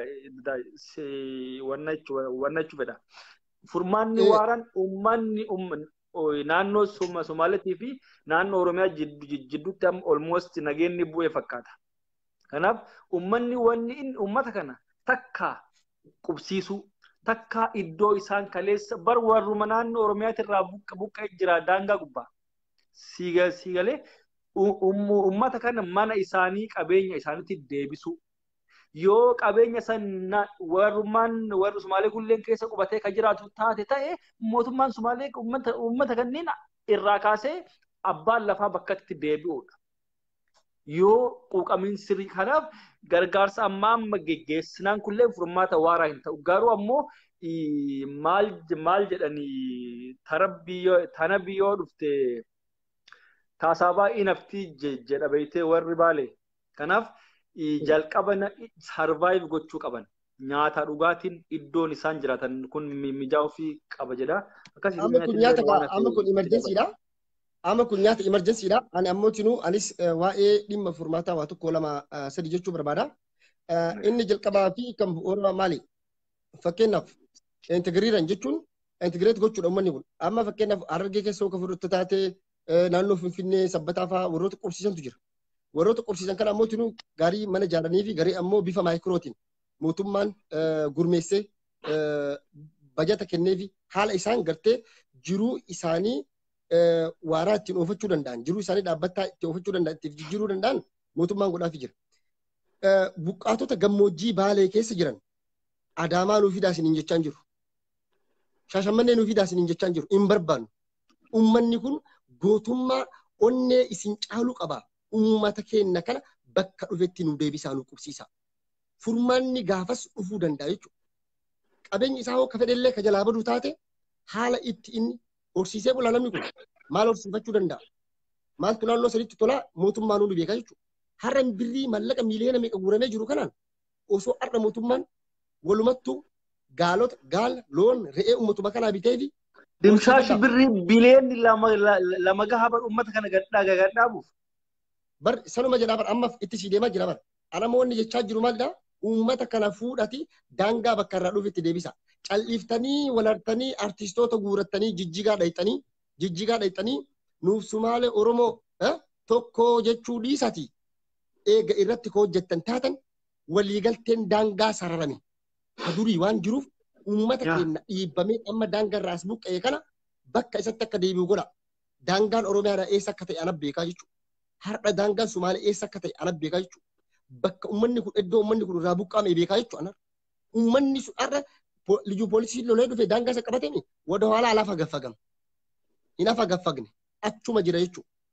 wannachuu fedha. Furmaanni waaraan uummanni naannoo Somaaleetii fi naannoo Oromiyaa jidduutti amma olmoost nageenni bu'ee fakkaata. Kanaaf uummanni wanni inni uummata kana takka qubsiisuu takka iddoo isaan kaleessa bar warruma naannoo Oromiyaati irraa buqqa'ee jira daangaa gubbaa. Siigalee uummata kana mana isaanii qabeenya isaaniitti deebisuu. yoo qabeenya san na- warrummaan warri Sumaalee kulleen keessa qubatee kan jiraatu taate ta'e mootummaan Sumaalee uummata uummata kanneen irraa kaasee abbaan lafaa bakkatti deebi'uudha. Yoo quuqamiin sirrii kanaaf gargaarsa ammaa amma geggeessinaan kulleen furmaata waaraa hin ta'u. Garuu ammoo ii, maal maal jedhanii tarabbii yoo tanabbii yoo dhufte taasaabaa inaftii je- jedha beektee warri baalee. Kanaaf jalqaba sarvaayiv gochuu qaban. Nyaata dhugaatiin iddoon isaan jiraatan kun mijaa'uu fi qaba jedha. Akkasii Amma kun nyaata kaa- amma kun emergensiidha. Amma kun nyaata emergensiidha. Ani ammoo tinuu anis eh, waa'ee dhimma furmaataa waa tokko lama eh, sadi jechuu barbaada. Eh, Inni jalqabaa fi kan bu'uura maali? Fakkeenyaaf integiriiran jechuun integreet gochuudha uummanni kun. Amma fakkeenyaaf harargee keessa yoo ka fudhattu taate naannoo Finfinnee sabbataa fa'aa warroota qubsiisantu jira. Warroota qubsiisan kana ammoo tunuu garii mana ijaaranii fi garii ammoo bifa maayikirootiin mootummaan gurmeessee bajata kennee fi haala isaan gartee jiruu isaanii waaraa ittiin oofachuu danda'an jiruu isaanii dhaabbataa itti oofachuu danda'an ittiif jijjiiruu danda'an mootummaan godhaafi jira. Buqqaatota gammoojjii baalee keessa jiran adaamaa nuuf fidaa isiniin jechaan jiru. Shaashammannee nuuf fidaa isiniin jechaan jiru. Hin barbaannu. Uummanni kun gootummaa onnee isin caalu qaba. Uummata keenya kana bakka dhufetti nu deebisaa nu qubsiisaa. Furmaanni gaafas dhufuu danda'a jechuudha. Qabeenyi isaa hoo ka fedhellee ka jalaa badu taate haala itti inni horsiisee bulaa namni kun maal horsiifachuu danda'a? Maaltu naannoo sanitti tolaa mootummaa nu beeka jechuudha. Har'a birrii mallaqa miiliyoona meeqa guuramee jiru kanaan osoo har'a mootummaan walumattuu gaalota gaala loon re'ee uummatuma kanaa bitee fi Dimshaa shibbirrii biliyoonni lama la- lama gaha bar uummata kana gadhaa gagadhaabuuf. bar sanuma jedhaa bar ammaaf itti sii deemaa jira bar alamoonni jechaa jiru maalidha uummata kana fuudhati daangaa bakka irraa dhufitti deebisa cal'iftanii walartanii artistoota guurattanii jijjigaa dhayxanii jijjigaa dhayxanii nuuf sumaalee oromoo eh, tokko jechuu dhiisati eega irratti ka hojjettan taatan waliigalteen daangaa sararame ka durii waan jiruuf uummata Yaa. keenya dhiibbamee amma daangaa irraa as buqqa'e kana bakka isatti akka deebi'u godha. Daangaan Oromiyaa eessa akka ta'e ana beekaa jechuudha. Har'a daangaan Sumaalee eessa akka ta'e ana beekaa jechuudha. Bakka uummanni kun iddoo uummanni kun irraa buqqa'ame beekaa jechuudha. ana. Uummanni sun har'a po- liyyuu poolisiin lolee dhufe daangaa isa qabatame wada haalaa lafa gaffagama. Hin hafa gaffagne achuma jira jechuudha.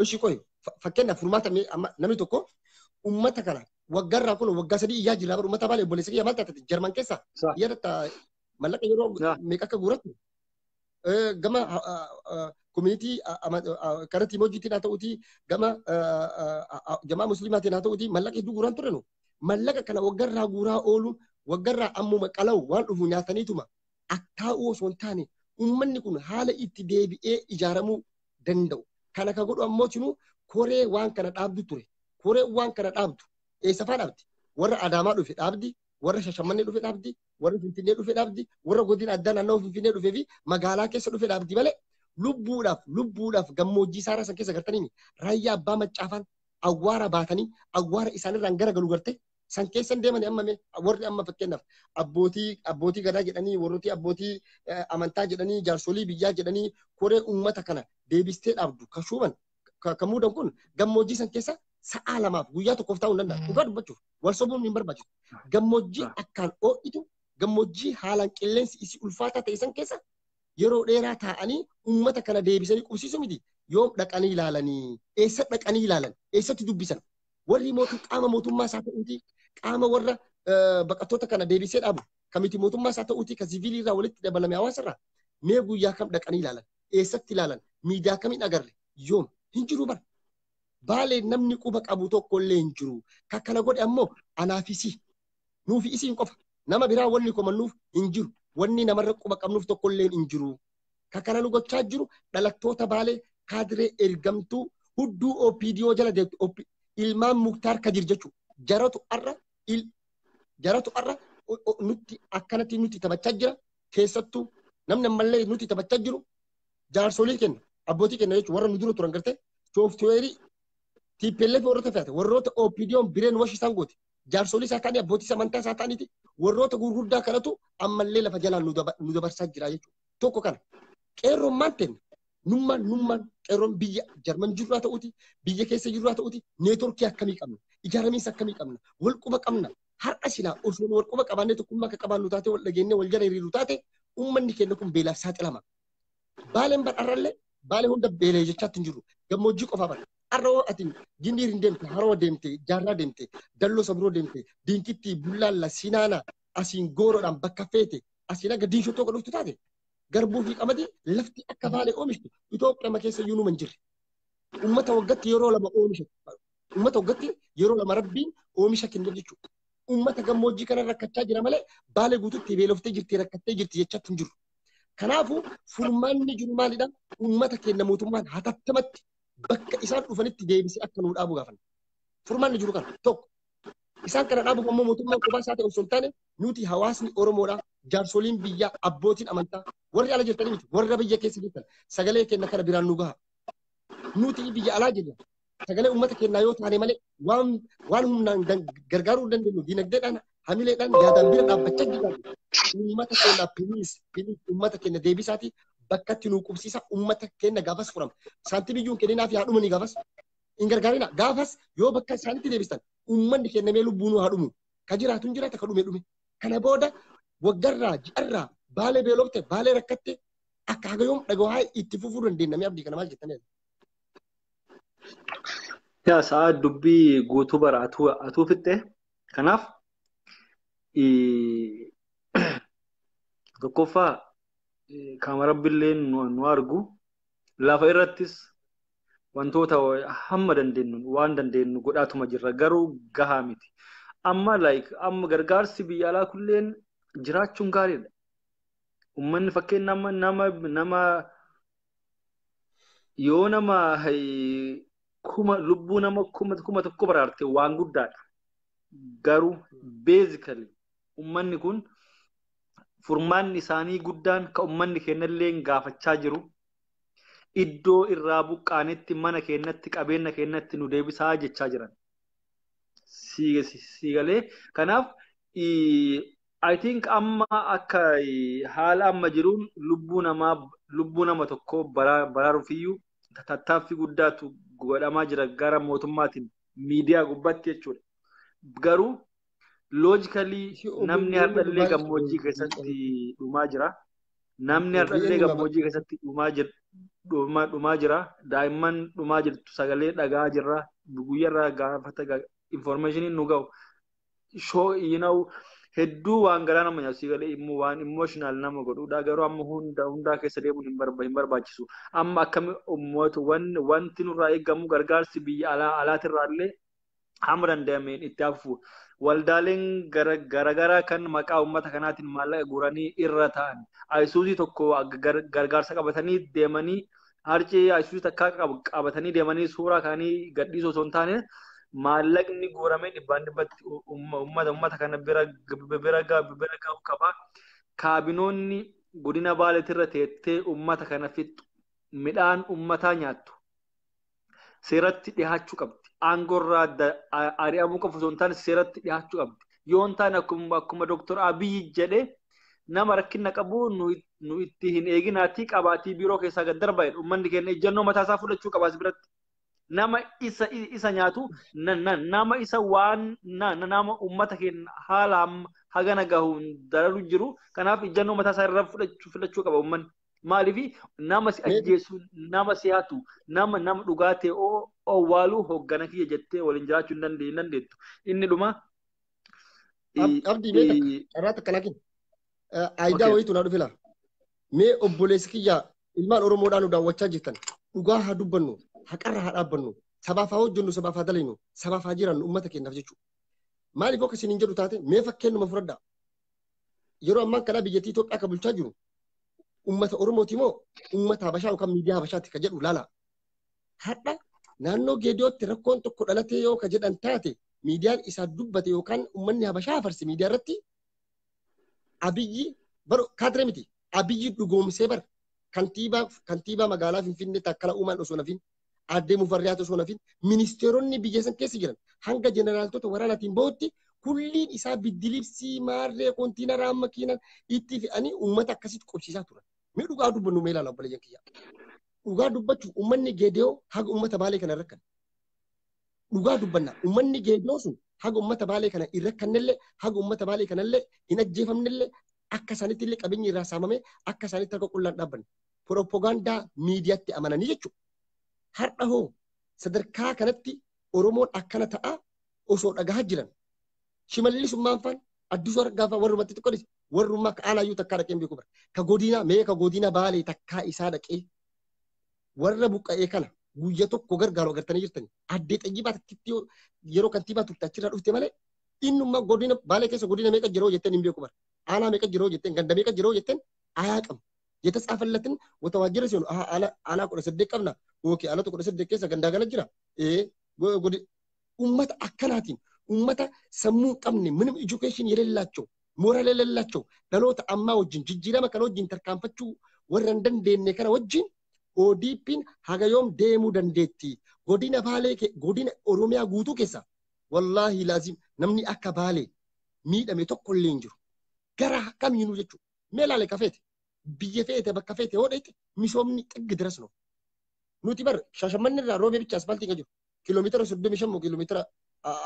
Oshi koi fakkenna furmaata mee amma namni tokko ummata kana waggaa irraa kun waggaa sadii iyyaa jirraa bara ummata baala obboleessa kiyya maal taate jarman keessa Sa- iyyaa tatta mallaqa yeroo Sa- meeqa akka guurattu Eh, gama koominitii karatti immoo hojjetiin haa ta'uutii gama ah, ah, ah, ah, jamaa musliimaatiin haa ta'uutii mallaqa hedduu guuraan turre nu mallaqa kana waggaa irraa guuraa ooluun waggaa irraa ammuma qalawu waan dhufu nyaataniituma akkaa'uu osoo hin taane uummanni kun haala itti deebi'ee ijaaramuu danda'u. Kana ka godhu ammoo cinu koree waan kana dhaabdu ture. Koree waan kana dhaabdu eessa faa dhaabdi? Warra Adaamaa dhufe dhaabdi, warra Shashammannee dhufe dhaabdi, warra Finfinnee dhufe dhaabdi, warra godina addaa naannoo Finfinnee dhufee fi magaalaa keessa dhufe dhaabdi malee lubbuudhaaf lubbuudhaaf gammoojjii isaarraa san keessa gartanii raayyaa abbaa maccaafaan awwaara baatanii awwaara isaanirraan gara galu gartee san keessan deemanii amma mee warri amma fakkeenyaaf abbootii abbootii gadaa jedhanii warrooti abbootii eh, amantaa jedhanii jaarsolii biyyaa jedhanii koree uummata kana deebistee dhaabdu ka shuuman ka ka muudan kun gammoojjii san keessa sa'aa lamaaf guyyaa tokkoof taa'uu hin danda'a dhugaa dubbachuuf wal sobuun hin barbaachisu gammoojjii akkaan oo'itu gammoojjii haalaan qilleensi isii ulfaataa ta'e san keessa yeroo dheeraa taa'anii uummata kana deebisanii qubsiisu miti yoom dhaqanii ilaalanii eessa dhaqanii ilaalan eessatti dubbisan Warri mootu qaama mootummaa isaa ta'uuti qaama warra eh, baqattoota kana deebisee dhaabu kamiti mootummaa isaa ta'uuti kan siviilii irraa walitti dabalame hawaasa irraa mee guyyaa kam dhaqanii ilaalan eessatti ilaalan miidiyaa kamiin agarre yoom hin jiru bara. Baalee namni quba qabu tokko illee hin jiru. Kan kana godhe ammoo anaa fi isii. Nuufi isiin qofa. Nama biraa wanni komannuuf hin jiru. Wanni namarra quba qabnuuf tokko illee hin jiru. Ka kana nu gochaa jiru dhalattoota baalee kaadiree ergamtuu hudduu OPDO jala deemtu OP ilmaan muktaar kadir jechuudha. Jaratu arra il jaratu arra o- o- nutti akkanatti nutti taphachaa jira. Keessattuu namni ammallee nutti taphachaa jiru jaarsolii kenna abbootii kenna jechuudha warra nu dura turan gartee sooftiweerii TPLF warroota fe'ate warroota OPDOn bireen washi isaan goote jaarsolii isaa ta'anii abbootii samantaa isaa ta'aniiti warroota gurguddaa kanatu ammallee lafa jalaan nu daba- nu dabarsaa jira jechuudha. Tokko kana. Qeerroon maal ta'e? Nummaan nummaan qeerroon biyya Jarman jirru haa ta'uuti, biyya keessa jirru haa ta'uuti, neetworkii akkamii qabna? Ijaaramiinsa akkamii qabna? Wal quba qabna? Har'a silaa osoo nu wal quba qabaannee tokkummaa akka qabaannu taate wal dhageennee wal jala hiriiru taate uummanni keenya kun beelaaf saaxilama. Baaleen bar arrallee baalee hunda beelee jechaatti hin jiru. Gammoojjii qofaa bar. Arra hoo ati gindiir hin deemte, haroo deemte, jaarraa deemte, dalloo sabiroo deemte, diinkitti, bullaalla, sinaana, asiin gooroodhaan bakka feete, asiin akka diinshoo tokko dhuftu taate. Garbuu fi qamadii lafti akka baalee oomishtu Itoophiyaa keessa iyyuu numa hin jirre. Uummata waggatti yeroo lama oomisha. Uummata waggatti yeroo lama rabbiin oomisha kenneef jechuudha. Uummata gammoojjii kana rakkachaa jira malee baalee guututti beeloftee jirti rakkattee jirti jechaatti hin jiru. Kanaafuu furmaanni jiru maalidha? Uummata keenya mootummaan hatattamatti bakka isaan dhufanitti deebisee akka nuu dhaabu gaafanna. Furmaanni jiru kana tokko. Isaan kana dhaabuuf ammoo mootummaan kophaa isaa ta'e osoo hin taane nuti hawaasni Oromoodha. Jaarsoliin biyyaa abbootiin amantaa warri ala jirtanii miti warra biyya keessa jirtan sagalee keenya kana biraan nu gaha. Nuti biyya alaa jirra. sagalee uummata keenyaa yoo taane malee waan waan humnaan dan- gargaaruu hin dandeenyu dinagdeedhaan hamileedhaan yaadaan bira dhaabbachaa jirra. Uummata keenya piliis piliis uummata keenya deebisaati bakka itti nuu qubsiisa uummata keenya gaafas furama. Saantii biyyuun kenninaaf yaa dhumanii gaafas hin gargaarina gaafas yoo bakka isaanitti deebistan uummanni keenya mee lubbuu nuu haa dhumu. Ka jiraatu hin jiraata ka dhume dhume. Kana booda waggarraa ji'arraa baalee beelofte baalee rakkatte akka haga yoom dhaga'aa itti fufuu dandeenya mee abdii kana maal jettanii? Yaa sa'aa dubbii guutuu bara atuu atuu fixxee kanaaf ii- tokkoffaa ii, qaama rabbillee nu nu argu lafa irrattis wantoota hamma dandeenyu waan dandeenyu godhaatuma jirra garuu gahaa miti. Amma like amma gargaarsi biyya alaa kulleen jiraachuun gaariidha. Uummanni fakkeenya nama nama nama yoo nama kuma lubbuu nama kuma kuma tokko baraarte waan guddaadha. Garuu beezikali ummanni kun furmaanni isaanii guddaan ka ummanni keenyallee gaafachaa jiru iddoo irraa buqqaanetti mana keenyatti qabeenya keenyatti nu deebisaa jechaa jiran. Siigalee kanaaf I think amma akka haala amma jiruun lubbuu namaa lubbuu nama tokkoo baraaruufiyyuu tattaaffii guddaatu godhamaa jira gara mootummaatiin miidiyaa gubbatti jechuudha. Garuu loojikalii namni hardhallee gammoojjii keessatti dhumaa jira. Namni hardhallee gammoojjii keessatti dhumaa jira. Daa'imman dhumaa jirtu sagalee dhagaa jirra. Guyyarraa gaafata informaashiniin nu ga'u shoo you know hedduu waan garaa nama nyaatu si galee immoo waan emotional nama godhuudha garuu amma hunda hundaa keessa deemuun hin barba hin barbaachisu amma akkami ummata wan wanti nurraa eegamu gargaarsi biyya alaa alaatirraa illee hamma danda'ameen itti hafu waldaaleen gara garagaraa kan maqaa ummata kanaatiin maallaqa guuranii irra ta'an ayisuuzii tokko gar- gargaarsa qabatanii deemanii harci isuus takkaa qabu qabatanii deemanii suuraa kaanii gadhiisuu osoo hin taane maallaqni guuramee dhibbaan dhibbatti uummata uummata kana bira bira bira ga'uu qaba. Kaabinoonni godina baaleetirra teettee uummata kana fixxu midhaan uummataa nyaattu seeratti dhihaachuu qabdi. Aangorraa ari'amuu qofa osoo hin taane seeratti dhihaachuu qabdi. Yoo hin taane akkuma Dooktar Abiyyi jedhee nama rakkina qabu nu itti hin eeginaatii qabaatii biiroo keessaa gad darba jedhu ummanni keenya ejjannoo mataa isaa fudhachuu qaba as biratti. Nama isa isa nyaatu na- na- nama isa waan na- na- nama ummata keenya haala amma hagana gahuun dararu jiru kanaaf ejjannoo mataa isaa irra fudhachuu fudhachuu qaba ummanni. Maaliif nama si Mee- ajjeesu nama si hatu nama nama dhugaa ta'e oo- owwaaluu hoggana kiyya jettee waliin jiraachuu hin dande- hin dandeettu. Inni dhuma Ab- Abdii mee takka i- carraa takka lakin. Aayidaa Okay. wayiitu naa dhufe laa. Mee obboleessi kiyya ilmaan Oromoodhaa nu daawwachaa jirtan dhugaa haa dubbannu haqarra haa dhaabbannu sabaaf haa hojjennu sabaaf haa dalaynu sabaaf haa jiraannu uummata keenyaaf jechuudha. Maaliif akka isin hin jedhu taate mee fakkeenyuma fudhadhaa. Yeroo ammaa kana biyyattii Itoophiyaa kan bulchaa jiru uummata Oromooti moo uummata Habashaa yookaan miidiyaa Habashaatti kan jedhu laala. Har'a naannoo Geediyootti rakkoon tokko dhalatee yoo ka jedhan taate miidiyaan isaa dubbate yookaan uummanni Habashaa farse miidiyaa irratti Abiyyi bar kaatire miti. Abiyyi dhugoomsee bar kantiibaa kantiibaa magaalaa Finfinnee takkala uumaan osoo nafin addee mufarriyaat osoo nafin ministeeronni biyya san keessa jiran hanga jeneraaltota waraanaatiin bahutti kulliin isaa biddilibsii maarree kontiinaraa makiinan itti fe'anii uummata akkasitti qubsiisaa turan. Mee dhugaa dubbannu mee ilaala obboleeyyan kiyya. Dhugaa dubbachuuf uummanni geediyoo haga uummata baalee kana rakkan. dhugaa dubbanna ummanni geedoo sun haga ummata baalee kana hin rakkannellee haga ummata baalee kanallee hin ajjeefamnellee akka isaanitti illee qabeenyi irraa saamamee akka isaanitti harka qullaan dhaabbanne pirooppogaandaa miidiyaatti amananii jechuudha. Har'a hoo sadarkaa kanatti Oromoon akkana ta'a osoo dhagahaa jiran shimallisummaan faan addisuu argaa faan warrumatti xiqqoo dhise warrummaa ka aanaayyuu takkaa dhaqee hin beeku bara. Ka godinaa mee ka godina baalee takkaa isaa dhaqee warra buqqa'ee kana guyya tokko gargaaru agartanii jirtani. Addee xayyibaa takkitti yeroo kantiibaa turte achirraa dhufte malee innumma godina baalee keessa godina meeqa jiroo jetteen hin beeku bara. Aanaa meeqa jiroo jetteen ganda meeqa jiroo jetteen ayaa qabu. Jeta tsaafallatin wata waajjira seenu aanaa kudha saddeet qabna yookiin aanota kudha saddeet keessa gandaa gala jira. Ee ummata akkanaatiin ummata sammuu hin qabne minimum education yelellaacho moral yelellaacho dhaloota ammaa wajjin jijjiirama kana wajjin tarkaanfachuu warra hin dandeenye kana wajjin ODPn haga yoom deemuu dandeetti godina baalee ke- godina oromiyaa guutuu keessa wallaahi laazim namni akka baalee miidhame tokko illee hin jiru gara kamiinuu jechuudha mee laale kafeete biyya feete bakka feete yoo dheete misoomni xiggi diras no nuti bar shashammanni irraa roobee bicha asfaaltii kan jiru kiiloomeetira soddomii shan moo kiiloomeetira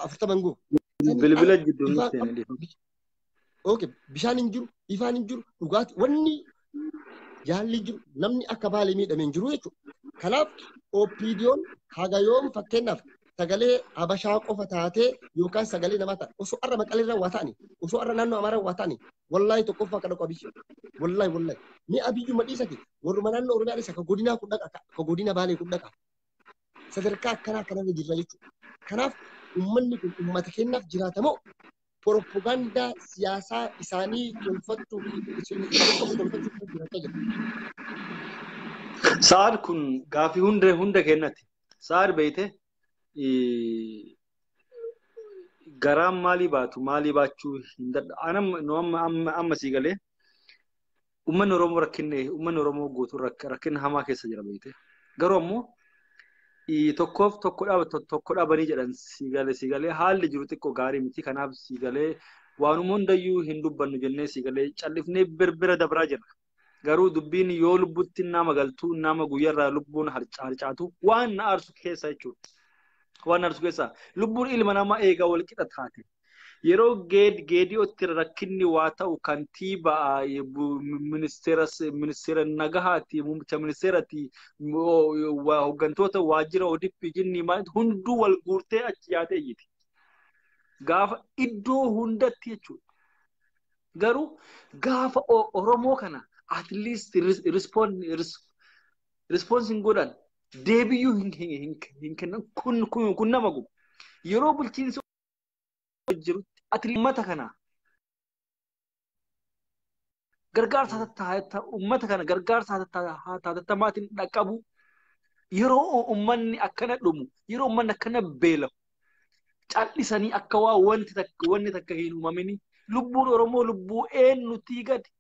afurtama hin ga'u. Bilbila jidduu Ifaa- nutti hin dhiifamu. Okay, bishaan hin jiru, ifaan hin jiru, dhugaatii wanni yaalli jiru namni akka baalee miidhame hin jiru jechuudha. Kanaaf OPDOn haga yoom fakkeenyaaf sagalee Habashaa qofa taatee yookaan sagalee namaa taate osoo har'a maqaleerra waa ta'ani osoo har'a naannoo Amaaraa waa ta'ani wallaahi tokkoffaa akka dhaqu abiyyi wallaahi wallaahi ni abiyyuma dhiisati warruma naannoo Oromiyaa dhiisa ka godinaa kun dhaqa ka godina baalee kun dhaqa sadarkaa akkanaa kanarra jirra jechuudha. Kanaaf uummanni kun uummata keenyaaf jiraata moo propagaandaa siyaasaa isaanii tolfachuu fi tolfachuuf jiraata jira. Sa'aad kun gaaffii hunda hunda kennati. Sa'aad beeyte garaan maalii baatu maalii baachuu hin dadha. Anam nu amma amma amma sii galee Uummanni Oromoo rakkinni uummanni Oromoo guutuun rakkinna hamaa keessa jira beekte. Garuu ammoo tokkoof tokko dhaaba tokko dhaabanii jedhan siigalee siigalee haalli jiru xiqqoo gaarii miti kanaaf siigalee waanuma hundayyuu hin dubbannu jennee siigalee callifnee birbira dabraa jirra. Garuu dubbiin yoo lubbutti nama galtuu nama guyyarraa lubbuun harcaatu waan na aarsu keessa jechuudha. Waan na aarsu keessa lubbuun ilma namaa eegaa wal qixa taate. Yeroo Geedi'ootti rakkinni waa ta'u kantiibaa ministeera nagahaati, muummicha ministeerati, hoggantoota waajjira ODP jinni hunduu wal guurtee achi yaatee iyyiti. Gaafa iddoo hundatti jechuudha. Garuu gaafa Oromoo kana at least response hin godhan deebiyyuu hin kennan kun nama gubu. Yeroo bulchiinsi jirutti ati uummata kana gargaarsa tattaata uummata kana gargaarsa tattatamaatiin dhaqqabu yeroo uummanni akkana dhumu yeroo uummanni akkana beelamu callisanii akka waa wanti takka wanni takka hin uumamini lubbuun Oromoo lubbuu eenyutii gadi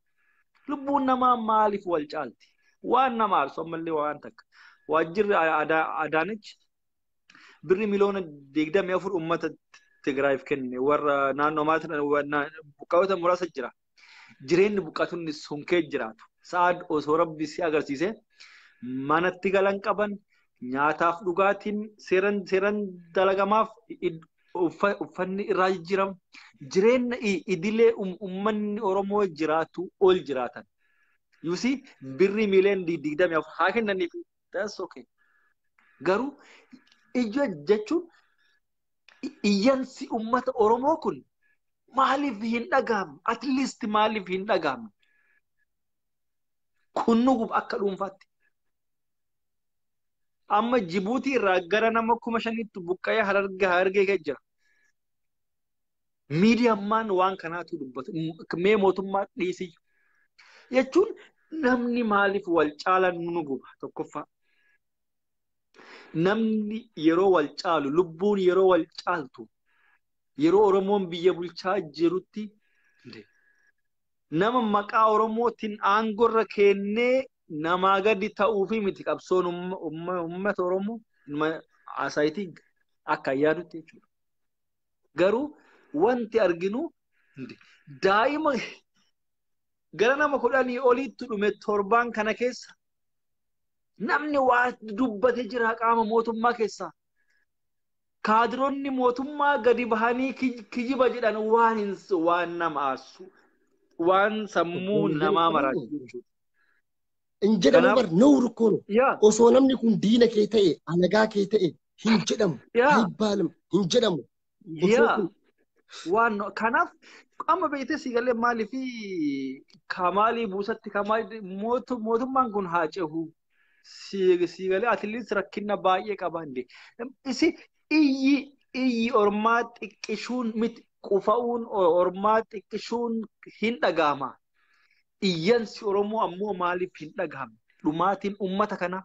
lubbuun namaa maaliif wal caalti waan nama aarsu ammallee waan takka waajjirri adaanech birri miliyoona digdamii afur uummata Tigraayiif kenne warra naannoo maatiin buqqaa'ota muraasa jira. Jireenyi buqqaatonni sun kee jiraatu. Sa'aad osoo rabbi si agarsiise manatti galan qaban nyaataaf dhugaatiin seeran seeran dalagamaaf uffanni irraa jijjiiramu. Jireenya idilee uummanni Oromoo jiraatu ol jiraatan. Yuusi birri miliyoona digdamii afur haa kennaniif That's okay. Garuu iyya jechuun iyyansi uummata Oromoo kun maaliif hin dhagahamne? At least maaliif hin dhagahamne? Kun nu gub akka dhuunfaatti. Amma Jibuutii irraa gara nama kuma shaniitti buqqa'ee harargee harargee gad jira. Miidiyammaan waan kanaatu dubbatu. Mee mootummaa dhiisiyyu. Jechuun namni maaliif wal caala nu guba tokkoffaa. Namni yeroo wal caalu lubbuun yeroo wal caaltu yeroo Oromoon biyya bulchaa jirutti nama maqaa Oromootiin aangorra kennee namaa gadi ta'uufi miti qabsoon uummata Oromoo asaayitiin akka yaadutti jechuudha. Garuu wanti arginu daa'ima gara nama kudhanii oliitti dhume torbaan kana keessa namni waa dubbate jira qaama mootummaa keessaa. Kaadironni mootummaa gadi bahanii kijiba jedhan waan hin waan nama aarsu waan sammuu namaa maraasu jechuudha. Hin jedhamu Kanaaf- bar nowr koo no. Yaa Osoo namni kun diina kee ta'e alagaa kee ta'e hin jedhamu. yaa Ayibbaalam hin jedhamu. Osoo yaa kun waan no- kanaaf amma beektee si galee maalii fi kamaalii buusatti kamaalii mootu- mootummaan kun haa cehu si si galee atileetis rakkina baay'ee qaba hin isi iyyi iyyi ormaa xiqqishuun miti qufa'uun o- ormaa xiqqishuun hin dhaga'ama. Iyyansi Oromoo ammoo maaliif hin dhagahamne? Dhumaatiin uummata kanaa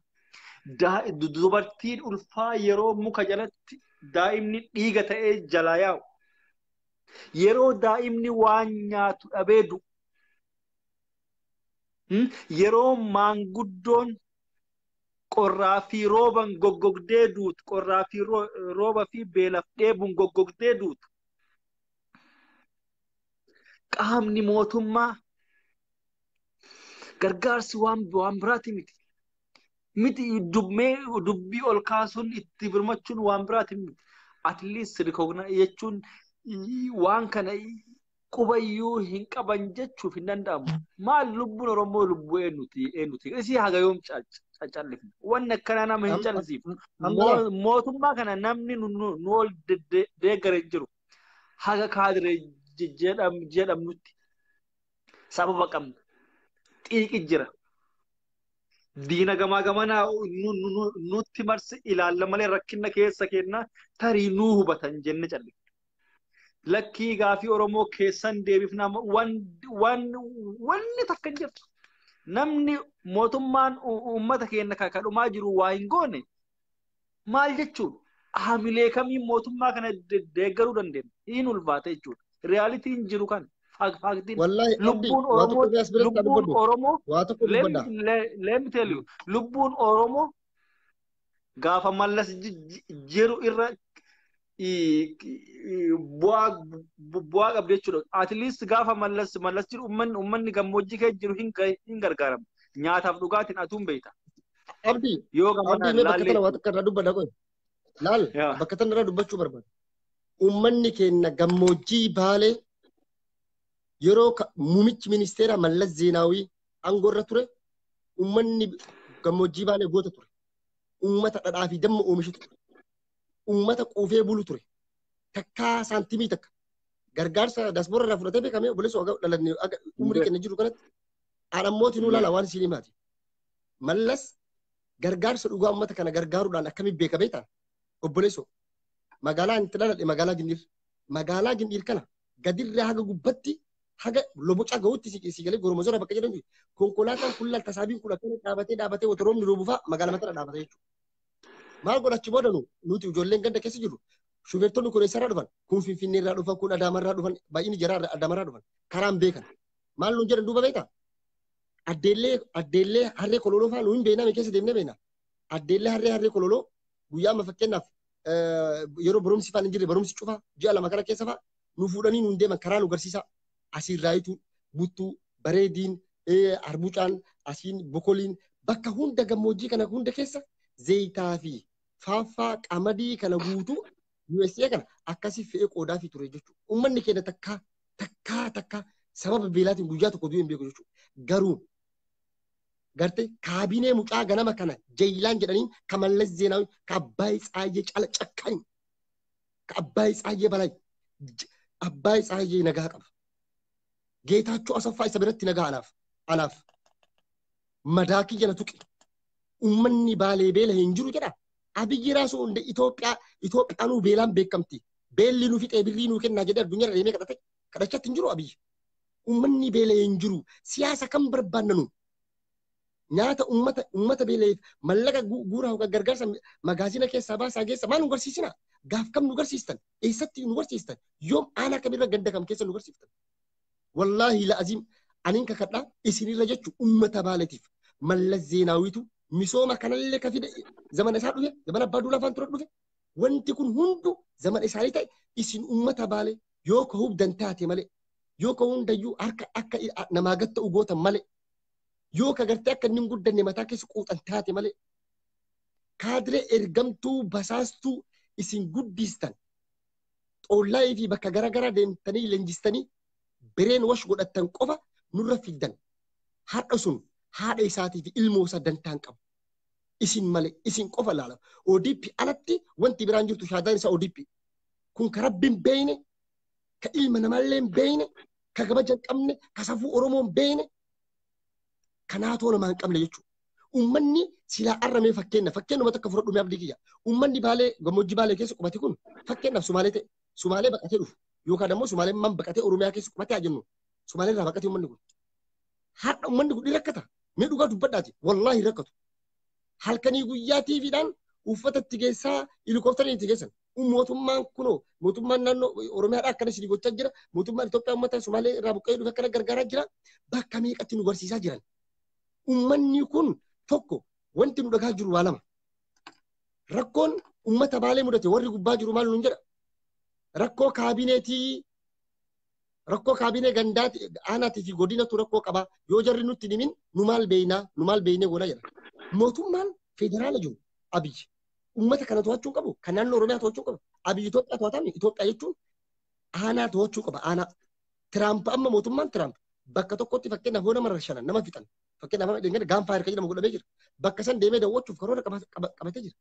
dubartiin ulfaa yeroo muka jalatti daa'imni dhiiga ta'ee jalaa yaa'u. Yeroo daa'imni waan nyaatu dhabee du'u. Yeroo maanguddoon qorraa fi rooban goggogdee duutu, qorraa fi rooba fi beelaf dheebuun goggogdee duutu. qaamni mootummaa gargaarsi waan waan biraati miti. Miti dubbee dubbii ol kaasuun itti birmachuun waan biraati miti. At least recognize jechuun waan kana qubayyuu hin qaban jechuuf hin danda'amu. Maal lubbuun Oromoo lubbuu eenyuti eenyuti isii haga yoom callifna. Wanni akkanaa nama hin callisiifnu. Mootummaa kana namni nu ol deeggare hin jiru. haga kaadire jedhamnutti sababa qabna. Xiiqi jira. Diina gamaa gamanaa nutti marsi ilaalla malee rakkina keessa kennaa tarii nuu hubatan jenne calle. Lakkii gaafii Oromoo keessan deebifna wanni takka hin jirtu. Namni mootummaan uummata keenya kakadhumaa jiru waa hin goone Maal jechuudha? Haamilee kamiin mootummaa kana de- deeggaruu dandeenya? Hin ulfaata jechuudha. Riyaalitiin jiru kan faaktiin Wallahi Abdi lubbuun waa tokko Oromoo irraa as biratti haa lubbuun dubbadhu. Oromoo Waa tokko let me, dubbadha. let, let me tell you lubbuun Oromoo gaafa mallas ji- ji- jiru irra bu'aa qabdi jechuudha. At least gaafa mallas mallas jiru ummanni ummanni gammoojjii kee jiru hin gargaaramu. Nyaataaf dhugaatiin atuun beekta. Abdi Yoo gama Abdi mee bakka tana waan takka irraa dubbadha qoy. Laal Yaa. bakka tana irraa dubbachuu barbaada. Ummanni keenya gammoojjii baalee yeroo ka- muummichi ministeeraa Mallas Zeenaawii aangoo irra ture ummanni gammoojjii baalee goota ture. Uummata dhadhaa fi damma oomishu ture. uummata quufee bulu ture. Takkaa saantimii takka. Gargaarsa dasboora irraa fudhatee beekamee obboleessa ogaa dhalanne aga umrii kenna jiru kanatti aan ammooti nuu laala waan isin himaati. Mallas gargaarsa dhugaa uummata kana gargaaruudhaan akkamiin beekamee ta'a? Obboleessa magaalaa inni itti dhaladhe magaalaa Gindhiir. Magaalaa Gindhiir kana gadirraa haga gubbatti haga lobocaa ga'utti si si galee goromosora bakka jedhamtu konkolaataan kun laal tasaabiin kun akkana dhaabatee dhaabatee wata roobni roobu fa'a magaalaa matara dhaabata jechuudha. Maal godhachi booda nu nuti ijoolleen ganda keessa jirru shufeertonni kun eessarraa dhufan kun finfinneerraa dhufan kun adaamarraa dhufan baay'inni jaraa adaamarraa dhufan karaan beekan maal nuun jedhan duuba beektaa addeellee addeellee harree kololoo fa'aa nuun beeknaa mee keessa deemnee beeknaa addeellee harree harree kololoo guyyaa amma fakkeenyaaf yeroo barumsi fa'aa hin jirre barumsi cufaa ji'a lama kana keessa fa'aa nu fuudhanii nuun deeman karaa nu garsiisaa asiin raayituu buttuu bareediin arbucaan asiin bokoliin bakka hunda gammoojjii kana hunda keessa zeeyitaa fi faaffaa qamadii kana guutuu USA kana akkasii fe'ee qoodaa fi ture jechuudha. Uummanni keenya takkaa takkaa takkaa sababa beelaatiin guyyaa tokko du'ee hin beeku jechuudha. Garuu garte kaabinee mucaa ganama kana jayilaan jedhanii ka mallas zeenaawi ka abbaay tsaayyee cala cakkaani. ka Abbaay Tsaayyee Balay j- Abbaay Tsaayyee nagaa qaba. Geetaachoo Asaffaa isa biratti nagaa anaaf anaaf madaa kiyya na tuqe. Uummanni baalee beela hin jiru jedha. Abiyyi raasuu hundee Itoophiyaa Itoophiyaanuu beelaan beekamti. Beelli nu fixee birrii nuu kennaa jedhee addunyaa deemee kadhate kadhachatti hin jiru Abiyyi. Uummanni beela hin jiru. Siyaasa kan barbaannanu. nyaata ummata ummata beela'eef mallaqa gu- guuraa hoggaa gargaarsa mi- magaazina keessaa baasaa geessa maal nu garsiisina gaaf kam nu garsiistan eessatti nu garsiistan yoom aanaa kamirra ganda kam keessa nu garsiiftan wallaahi la'aziim aniin kakadhaa isinirra jechu ummata baaletiif mallas zeenaawitu misooma kanallee ka fide zamana isaa dhufe zamana abbaa duulaa afaan ture dhufe wanti kun hundu zamana isaanii ta'e isin ummata baale yoo ka hubdan taate malee yoo ka hundayyuu harka akka i- a- namaa gatta ugootan malee yoo ka gartee akka inni hin guddanne mataa keessa quuxan taate malee kaadiree ergamtuu basaastuu isin guddiistan xoollaayii fi bakka garaagaraa deemtanii leenjistanii bireen wash godhattan qofa nurra fiddan har'a sun haadha isaatii fi ilmoo isaa dantaan qabu. Isin malee isin qofa laala. ODP alatti wanti biraan jirtu shaadaan isaa ODP. Kun ka rabbi hin beeyne, ka ilma namaallee hin beeyne, ka kabaja hin qabne, ka safuu Oromoo hin beeyne, Kanaa too namaa hin qabne jechuudha. Uummanni silaa arramee fakkeenya fakkeenyuma takka fudhadhu mee abdii kiyya. Uummanni baalee gammoojjii baalee keessa qubate kun fakkeenyaaf sumaalee ta'e sumaalee baqatee dhufu yookaan ammoo sumaalee man baqatee oromiyaa keessa qubate haa jennu sumaalee irraa baqatee uummanni kun. Har'a uummanni kun ni rakkata mee dhugaa dubbadhaati wallaahi hin rakkatu. Halkanii guyyaa tiiviidhaan uffata itti geessaa helikooftariin itti geessan mootummaan kunoo mootummaan naannoo Oromiyaadhaa akkana isin gochaa jira mootummaan Itoophiyaa uummata Somaalee irraa buqqa'ee dhufe akkana gargaaraa jira bakka meeqatti nu barsiisaa jiran. Uummanni kun tokko wanti nu dhagaa jiru waa lama. Rakkoon uummata baalee mudate warri gubbaa jiru maal nuun jedha. Rakkoo kaabineetii rakkoo kaabinee gandaati aanaatii fi godinatu rakkoo qaba yoo jarri nutti himin nu maal beeynaa nu maal beeynee goona jedha. Mootummaan federaala jiru abiyyi uummata kana to'achuu hin qabu kan naannoo oromiyaa to'achuu hin qabu abiyyi Itoophiyaa to'atame Itoophiyaa jechuun aanaa to'achuu qaba aanaa Tiraamp amma mootummaan Tiraamp bakka tokkotti fakkeenyaaf hoo nama rashanan nama fixan fakkeenyaaf amma dhingana gaanfaa hirka jedhamu godhamee jira bakka san deemee daawwachuuf karoora qaba- qaba- qabatee jira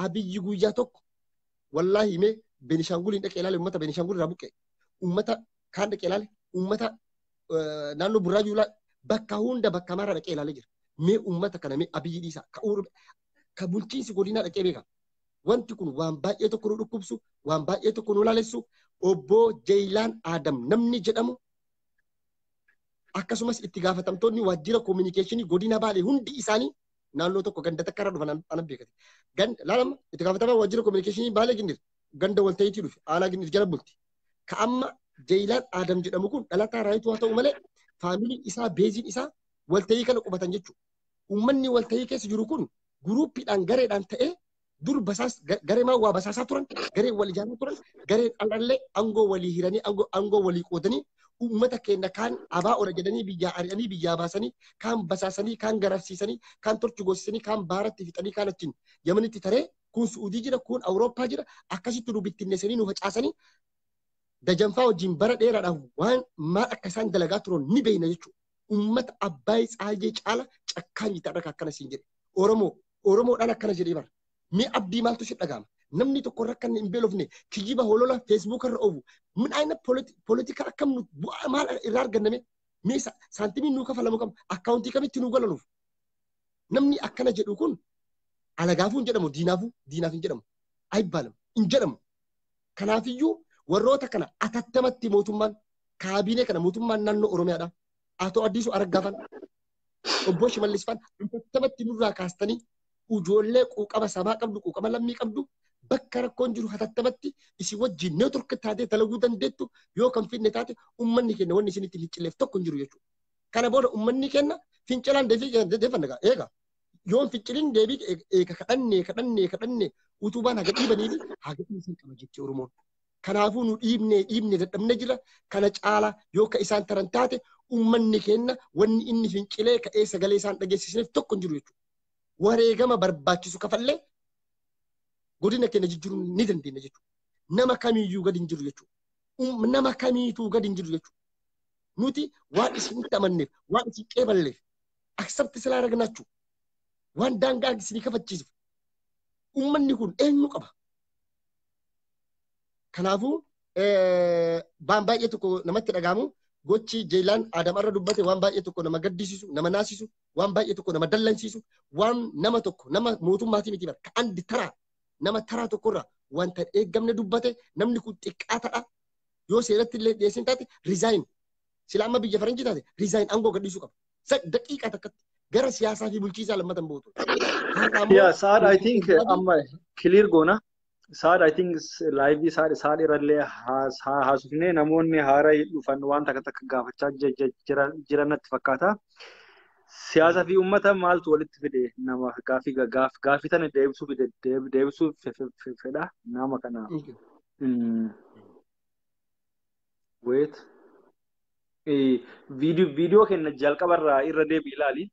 abiyyi guyyaa tokko wallaahi himee Beenishaanguliin dhaqee ilaale uummata Beenishaangul irraa buqqee uummata kaan dhaqee ilaale uummata eh, naannoo burraayuu ilaale bakka hunda bakka maraa dhaqee ilaale jira mee uummata kana mee abiyyi dhiisaa ka uur ka bulchiinsi godinaa dhaqee beeka. Wanti kun waan baay'ee tokko nu dhukkubsu, waan baay'ee tokko nu laalessu, obbo Jeeyilaan Aadam namni jedhamu akkasumas itti gaafatamtoonni waajjira koominikeeshinii godina Baalee hundi isaanii naannoo tokko ganda takka irra dhufan ana beekate. Ganda laalama itti gaafatamaa waajjira koominikeeshinii Baalee Gindir ganda walta'iitii dhufe aanaa Gindir jala bulti. Ka amma Jeeyilaan Aadam jedhamu kun dhalataa raayituu haa ta'u malee faamilii isaa beeziin isaa walta'ii kana qubatan jechuudha. uummanni waltahii keessa jiru kun guruuppiidhaan gareedhaan ta'ee dur basaas gareemaan waa basaasaa turan garee wal ijaaraa turan gareen al'allee aangoo walii hiranii aangoo walii qoodanii uummata keenya kaan abaa ola jedhanii biyyaa ari'anii biyyaa baasanii kaan basaasanii kaan gararsiisanii kaan torchi goosisanii kaan baaratti fixanii kaan achiin yamanitti taree kun su'udii jira kun awurooppaa jira akkasitti nu bittinneessanii nu facaasanii dajanfaa wajjin bara dheeraadhaaf waan maal akka isaan dalagaa turan ni beekna jechuudha. ummata Abbaay Tsaayyee caala cakkaanyi ta'an akka akkana siin jedhe. Oromoo, Oromoodhaan akkana jedhee bara. Mee abdii maaltu si dhaga'ama? Namni tokko irra kan hin beelofne kijiba holola feesbuuk irra oofu. Min aina politika akkam nu bu'aa maal irraa arganname? Mee saantimiin nuu kafalamu kam? Akkaawuntii kamitti nuu galanuuf? Namni akkana jedhu kun alagaafuu hin jedhamu diinaafuu diinaaf hin jedhamu. Ayibbaalam hin jedhamu. Kanaafiyyuu warroota kana atattamatti mootummaan kaabinee kana mootummaan naannoo Oromiyaadha. Atoo Addiisuu Araggaafan obbo Shimallis Faan atattamatti nurraa kaastanii ijoollee quuqama sabaa qabdu quuqama lammii qabdu bakka rakkoon jiru atattamatti isin wajjin neetwork taatee dalaguu dandeettu yoo kan finne taate ummanni keenya wanni isinitti hin cilleef tokko hin jiru jechuudha. Kana booda ummanni keenya fincilaan deefanna eega. Yoon ficcilin deebii eega kadhannee kadhannee kadhannee utubaan haga dhiibanii fi haga dhiisan qaba jetti Oromoon. Kanaafuu nu dhiibnee dhiibnee dadhabne jira kana caala yoo ka isaan taran taate ummanni keenna wanni inni fincilee ka'ee sagalee isaan dhageessisneef tokko hin jiru jechuudha. Wareegama barbaachisu kafallee godina keenya jijjiiruu ni dandeenya jechuudha. Nama kamiyyuu gadi hin jiru jechuudha. Nama kamiituu gadi hin jiru jechuudha. Nuti waan isinitti amanneef, waan isin qeeballeef, accept silaa ragnaachu waan daangaa isinii kafachiisuuf ummanni kun eenyu qaba kanaafuu waan baay'ee tokko namatti dhagaamu gochi jeelaan aadam irra dubbate waan baay'ee tokko nama gaddisiisu nama naasisu waan baay'ee tokko nama dallansiisu waan nama tokko nama mootummaatii miti barka andi taraa nama taraa tokkorra wanta eeggamne dubbate namni kun xiqqaa ta'a yoo seeratti illee dhiyeessin taate riizaayin Sila amma biyya faranjii taate resign aangoo gadhiisuu qaba. Sa daqiiqaa takkatti gara siyaasaa fi bulchiisaa lammata hin buutu. Har'a ammoo Yeah, Saad, I think uh, Saad- amma clear goona. Saad, I think s- live Saad, Saad irrallee haas- haa- haasofnee namoonni haaraa dhufan waan takka takka gaafachaa je- je- jira- jiran natti fakkaata. Siyaasa fi uummata maaltu walitti fide nama gaafii ga- gaaf gaafii tana deebisuu fide deeb- deebisuu fe- fe- fe- fedha nama kana. Okay. Mm. Wait. Eh, Viidiyoo viidiyoo kenna jalqabarraa irra deebi ilaali.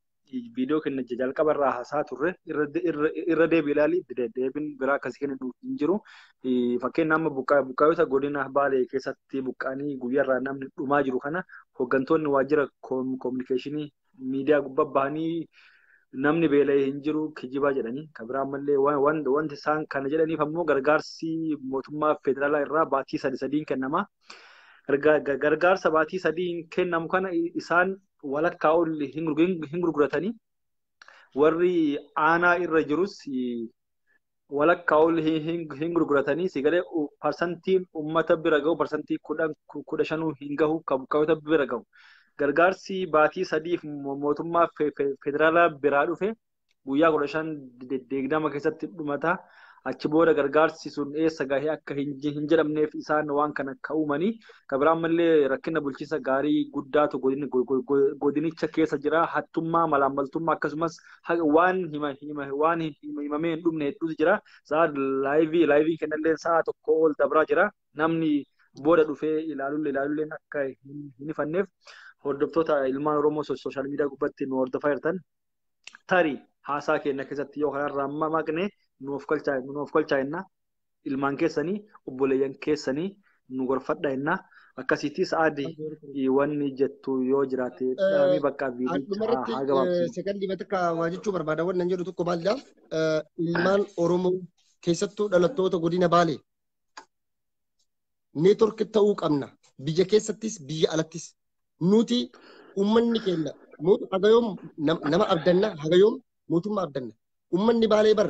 Viidiyoo kenna jalqabarraa haasaa turre irra de- irra- irra deebi ilaali. De- Deebiin biraa akkasii kennu hin jiru. Eh, Fakkeenya amma buqqaa- buqqaayota godina Baalee keessatti buqqaanii guyyaarraa namni dhumaa jiru kana hooggantoonni waajjira koom- koominikeeshinii miidiyaa gubbaa bahanii namni beela'e hin jiru kijibaa jedhanii kan biraa ammallee wanti isaan kana jedhaniif ammoo gargaarsi mootummaa federaalaa irraa baatii sadi sadiin kennama. Gargaarsa baatii sadiin kennamu kana isaan walakkaa ol hin gurguratanii warri aanaa irra jirus walakkaa ol hin gurguratanii si galee parsantiin uummata bira gahu parsantii kudha shanuu hin gahu kan buqqaatota bira gahu. Gargaarsi baatii sadiif mootummaa federaalaa biraa dhufe guyyaa kudha shan deegdama keessatti dhumata. Achi booda gargaarsi sun eessa gahee akka hin jedhamneef isaan waan kana akka uumanii kan biraan malee rakkina bulchiinsa gaarii guddaatu godinicha keessa jira. Hattummaa, malaammaltummaa akkasumas haqa waan hima hima waan hima himamee hin dhumne hedduutu jira sa'a laayivii laayiviin kennallee sa'a tokko ol dabraa jira namni booda dhufee ilaalullee ilaalulleen akka hin hin hifanneef hordoftoota ilmaan Oromoo so- sooshaal miidiyaa gubbatti nu hordofaa jirtan tarii haasaa keenya keessatti yoo kanarraa maqne nuuf kolchaa nuuf kolchaa jenna ilmaan keessanii obboleeyyan keessanii nu gorfadha jenna. Akkasiitii sa'aadi wanni jettu yoo jiraate dhaamii bakka viidicha haa gabaabsisu. Sekondii matakka waa jechuu barbaada wannan jedhu tokko maalidha. Ilmaan Oromoo keessattuu dhalattoota godina Baalee neetwork ta'uu qabna. Biyya keessattis biyya alattis nuti uummanni keenya hagayoom nama abdanna hagayoom mootummaa abdanna. Uummanni Baalee bar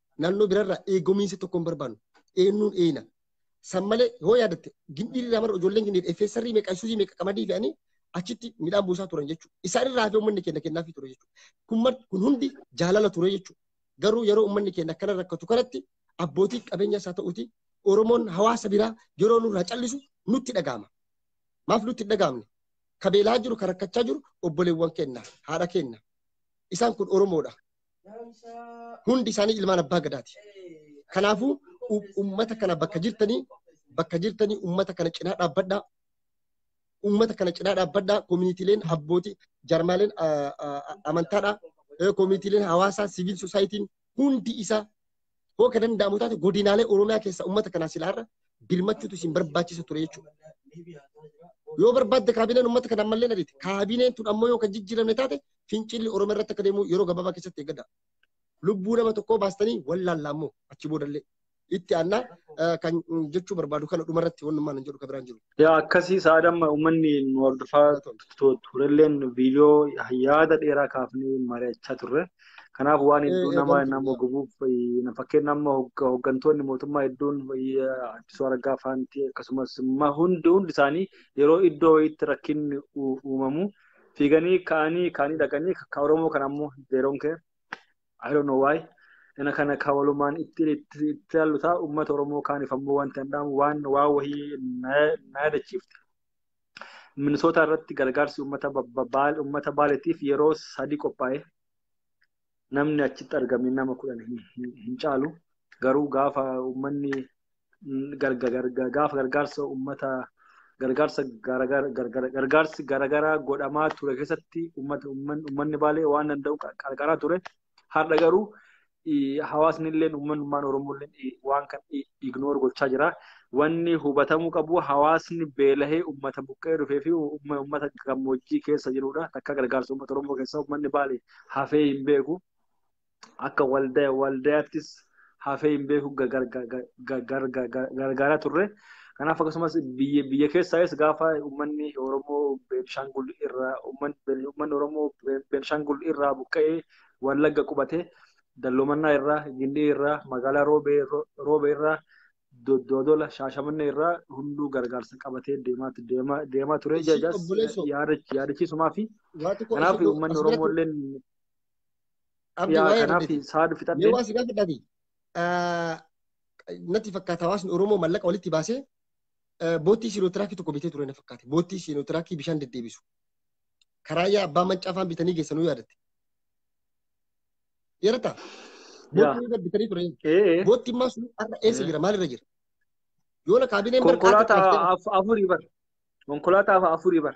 naannoo birarraa eegumiinsa tokko hin barbaannu. Eenyuun eeyna. San malee yoo yaadatte gindii irraa mara ijoolleen gindii effeessarrii meeqa isuuzii meeqa qamadii fe'anii achitti midhaan buusaa turan jechuudha. Isaan irraa hafee uummanni keenya kennaafii ture jechuudha. Kun mar- kun hundi jaalala ture jechuudha. Garuu yeroo uummanni keenya akkana rakkatu kanatti abbootii qabeenyaas haa ta'uuti Oromoon hawaasa biraa yeroo nurraa callisu nutti dhaga'ama. Maaf nutti hin dhaga'amne? Ka beelaa jiru, ka rakkachaa jiru obboleewwan keenya, haadha keenya. Isaan kun Oromoodha. Hundi isaanii ilmaan abbaa gadaati. Kanaafuu u- uummata kana bakka jirtanii bakka jirtanii uummata kana cinaa dhaabbadhaa. Uummata kana cinaa dhaabbadhaa. Koominiitiileen abbootii jarmaaleen ah, ah, ah, amantaadhaa. Eh, Koominiitiileen hawaasaa siviil sosaayitiin hundi isaa Hoo kan danda'amu taate godinaalee Oromiyaa keessa uummata kanaa silaa irra birmachuutu isin barbaachisa ture jechuudha. Yoo barbaadde kaabineen uummata kana ammallee ariite kaabineen tun ammoo yoo kan jijjiiramne taate fincilli Oromiyaa irratti akka deemu yeroo gabaabaa keessatti eeggadha. Lubbuu nama tokkoo baastanii wallaallaa immoo achi boodallee itti aannaa kan jechuu barbaadu kana dhumarratti wannummaan hin jedhu kan biraan jiru. Yaa akkasii sa'aada amma uummanni nu hordofaa turelleen viidiyoo yaada dheeraa kaafnee mari'achaa turre. Kanaaf waan hedduu nama nama gubuuf fakkeenya amma hooggantoonni mootummaa hedduun Addisuu Araggaa faanti akkasumas hundi hundi isaanii yeroo iddoo wayiitti rakkinni uumamu fiiganii ka'anii kaanii dhaqanii kan Oromoo kan ammoo zeeroon kee I don't know why. Kana kana ka walumaan itti itti itti ilaallu ta'a uummata Oromoo kaaniif ammoo wanta hin dhaamu waan waa wahii na na yaadachiifte. Minisootaa irratti gargaarsi uummata ba- ba- baal uummata baaleetiif yeroo sadii qophaa'e namni achitti argame nama kudhan hin, hin, hin caalu. Garuu gaafa uummanni gaafa gargaarsa uummata gargaarsa gargaarsi garaagaraa godhamaa ture keessatti uummanni baalee waan danda'u qarqaraa ture. Har'a garuu hawaasni illee uummanummaan Oromoo illee waan kan ignoor gochaa jira. Wanni hubatamuu qabu hawaasni beelahee uummata buqqee dhufee fi uummata gammoojjii keessa jirudha. Takka gargaarsa uummata Oromoo keessaa uummanni baalee hafee hin beeku. akka waldaya waldayaattis hafee hin beeku gargaaraa turre. Kanaaf akkasumas biyya biyya keessaayis gaafa uummanni Oromoo Beenishaangul irraa uummanni uummanni Oromoo Beenishaangul irraa buqqa'ee Wallagga qubate dalloomannaa irraa Gindii irraa magaalaa Roobee Ro- Roobee irraa Do- Doodola Shaashamannee irraa hunduu gargaarsa qabatee deemaa deemaa deemaa ture Ishii jajaas obboleessoo. yaadachiisumaa fi Waa tokko kanaaf ishii uummanni Oromoo asirratti illee Abdi Yaa waa'ee kanaaf Abdiiti. saadu Mee fixadhe. waan si gaafadha Abdi. Ah, Natti fakkaata hawaasni Oromoo mallaqa walitti baasee ah, boottii siinootiraakii tokko bitee ture na fakkaate. Boottii siinootiraakii bishaan deddeebisu. Karaa yaa abbaa mancaa faan bitanii geessanuu yaadatte. Yaadata? Yaa. Boottii bitanii ture. Ee. Boottiin maa sun har'a eessa Mm. jira? Maalirra jira? Yoona kaabineen bara kaartii Konkolaataa caaftee af- afurii bar. Konkolaataa afurii bar.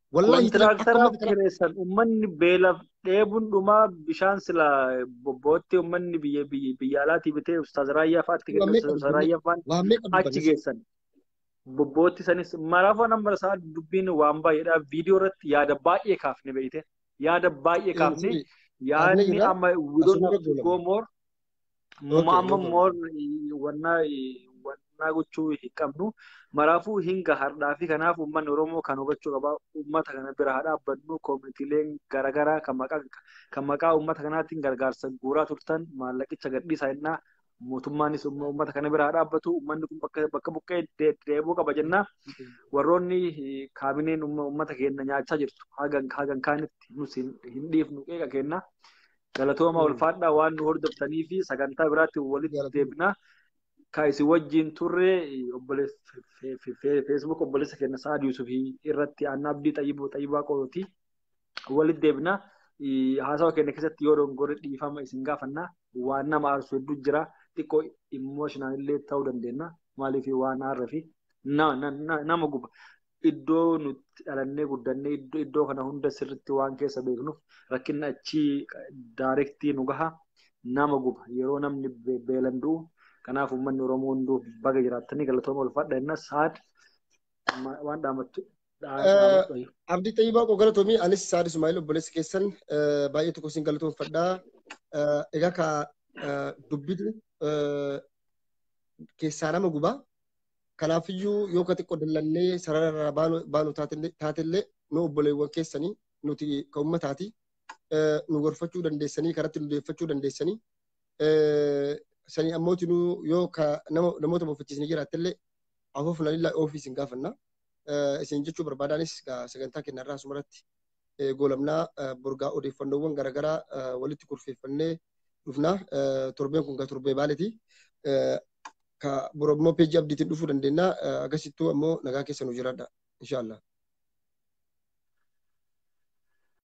Wallahi Kontiraaktaraf kireessan ummanni beelaf dheebun dhumaa bishaan sila bobbootti ummanni biyya biyya biyya alaatii bitee ustaaz raayyaa fa'aatti Waa meeqa ustaaz raayyaa fa'aan waa meeqa achi dubbanne geessan. Bobbootti sanis maraafuu nama isaa dubbiin waan baay'eedha. Viidiyoo irratti yaada baay'ee kaafne beekte. Yaada baay'ee kaafne. Yaadni amma we don't have to go more. Muma amma moor wanna wanna gochuu hin qabnu. Maraafuu hinga hardhaa fi kanaaf uummanni Oromoo kan hubachuu qaba. Uummata kana bira haa dhaabbannu. Koomitiileen garaagaraa kan maqaa kan maqaa uummata kanaatiin gargaarsa guuraa turtan maallaqicha gadhiisaa jennaa. Mootummaanis uummata kana bira haa dhaabbatu. Uummanni kun bakka bakka buqqee deebi'uu qaba jennaa. Warroonni kaabineen uummata keenya nyaachaa jirtu hagan hagan kaanitti nus hin dhiifnu qeeqa keenya. Galatooma Mm. ulfaadhaa waan nu hordoftanii fi sagantaa biraatti walitti Galatooma. deebina. Ka isin wajjin turre obboleessa fe- fe- fe- Facebook obboleessa keenya Sa'ad Yuusuf irratti Anna Abdii Xayyiboo Xayyibaa Qooti walitti deebina. Eh, Haasawa keenya keessatti yoo dogongorre dhiifama isin gaafanna. Waan nama aarsu hedduu jira. Xiqqoo immoo shinaan illee ta'uu dandeenya. Maaliif waan aarra fi na- na- na- nama guba. iddoo nuti dhalannee guddannee iddoo kana hunda sirritti waan keessa beeknuuf rakkinni achii daarektii nu gaha nama guba yeroo namni beelan du'u kanaaf uummanni Oromoo hunduu baga jiraattanii galatooma ulfaadha jenna saad waan dhaamattu Abdii Xayyibaa koo galatoomii anis Saad Ismaa'il obboleessi keessan baay'ee tokko isin galatoomfadha. Egaa ka dubbitu keessaa nama gubaa Kanaafiyyuu yoo ka xiqqoo dallannee sarara irraa baanu, baanu taatelle- taatellee nu obboleewwan keessanii nuti ka ummataati eh, nu gorfachuu dandeessanii karatti nu deeffachuu dandeessanii eh, sanii ammooti nu yoo ka nama, namoota bofachiisni jiraattellee afuufna lillaa ofii isin gaafanna. Eh, isin jechuu barbaadaanis ka sagantaa kenna irraa asumarratti goolabnaa borgaa odeeffannoowwan garaagaraa walitti kurfeeffannee dhufna. Torbeen kun kan torbee baaleeti. Ka bor ammoo peejii abdiitiin dhufuu dandeenya. Agasittuu ammoo nagaa keessa nu jiraadha. Inshaallah.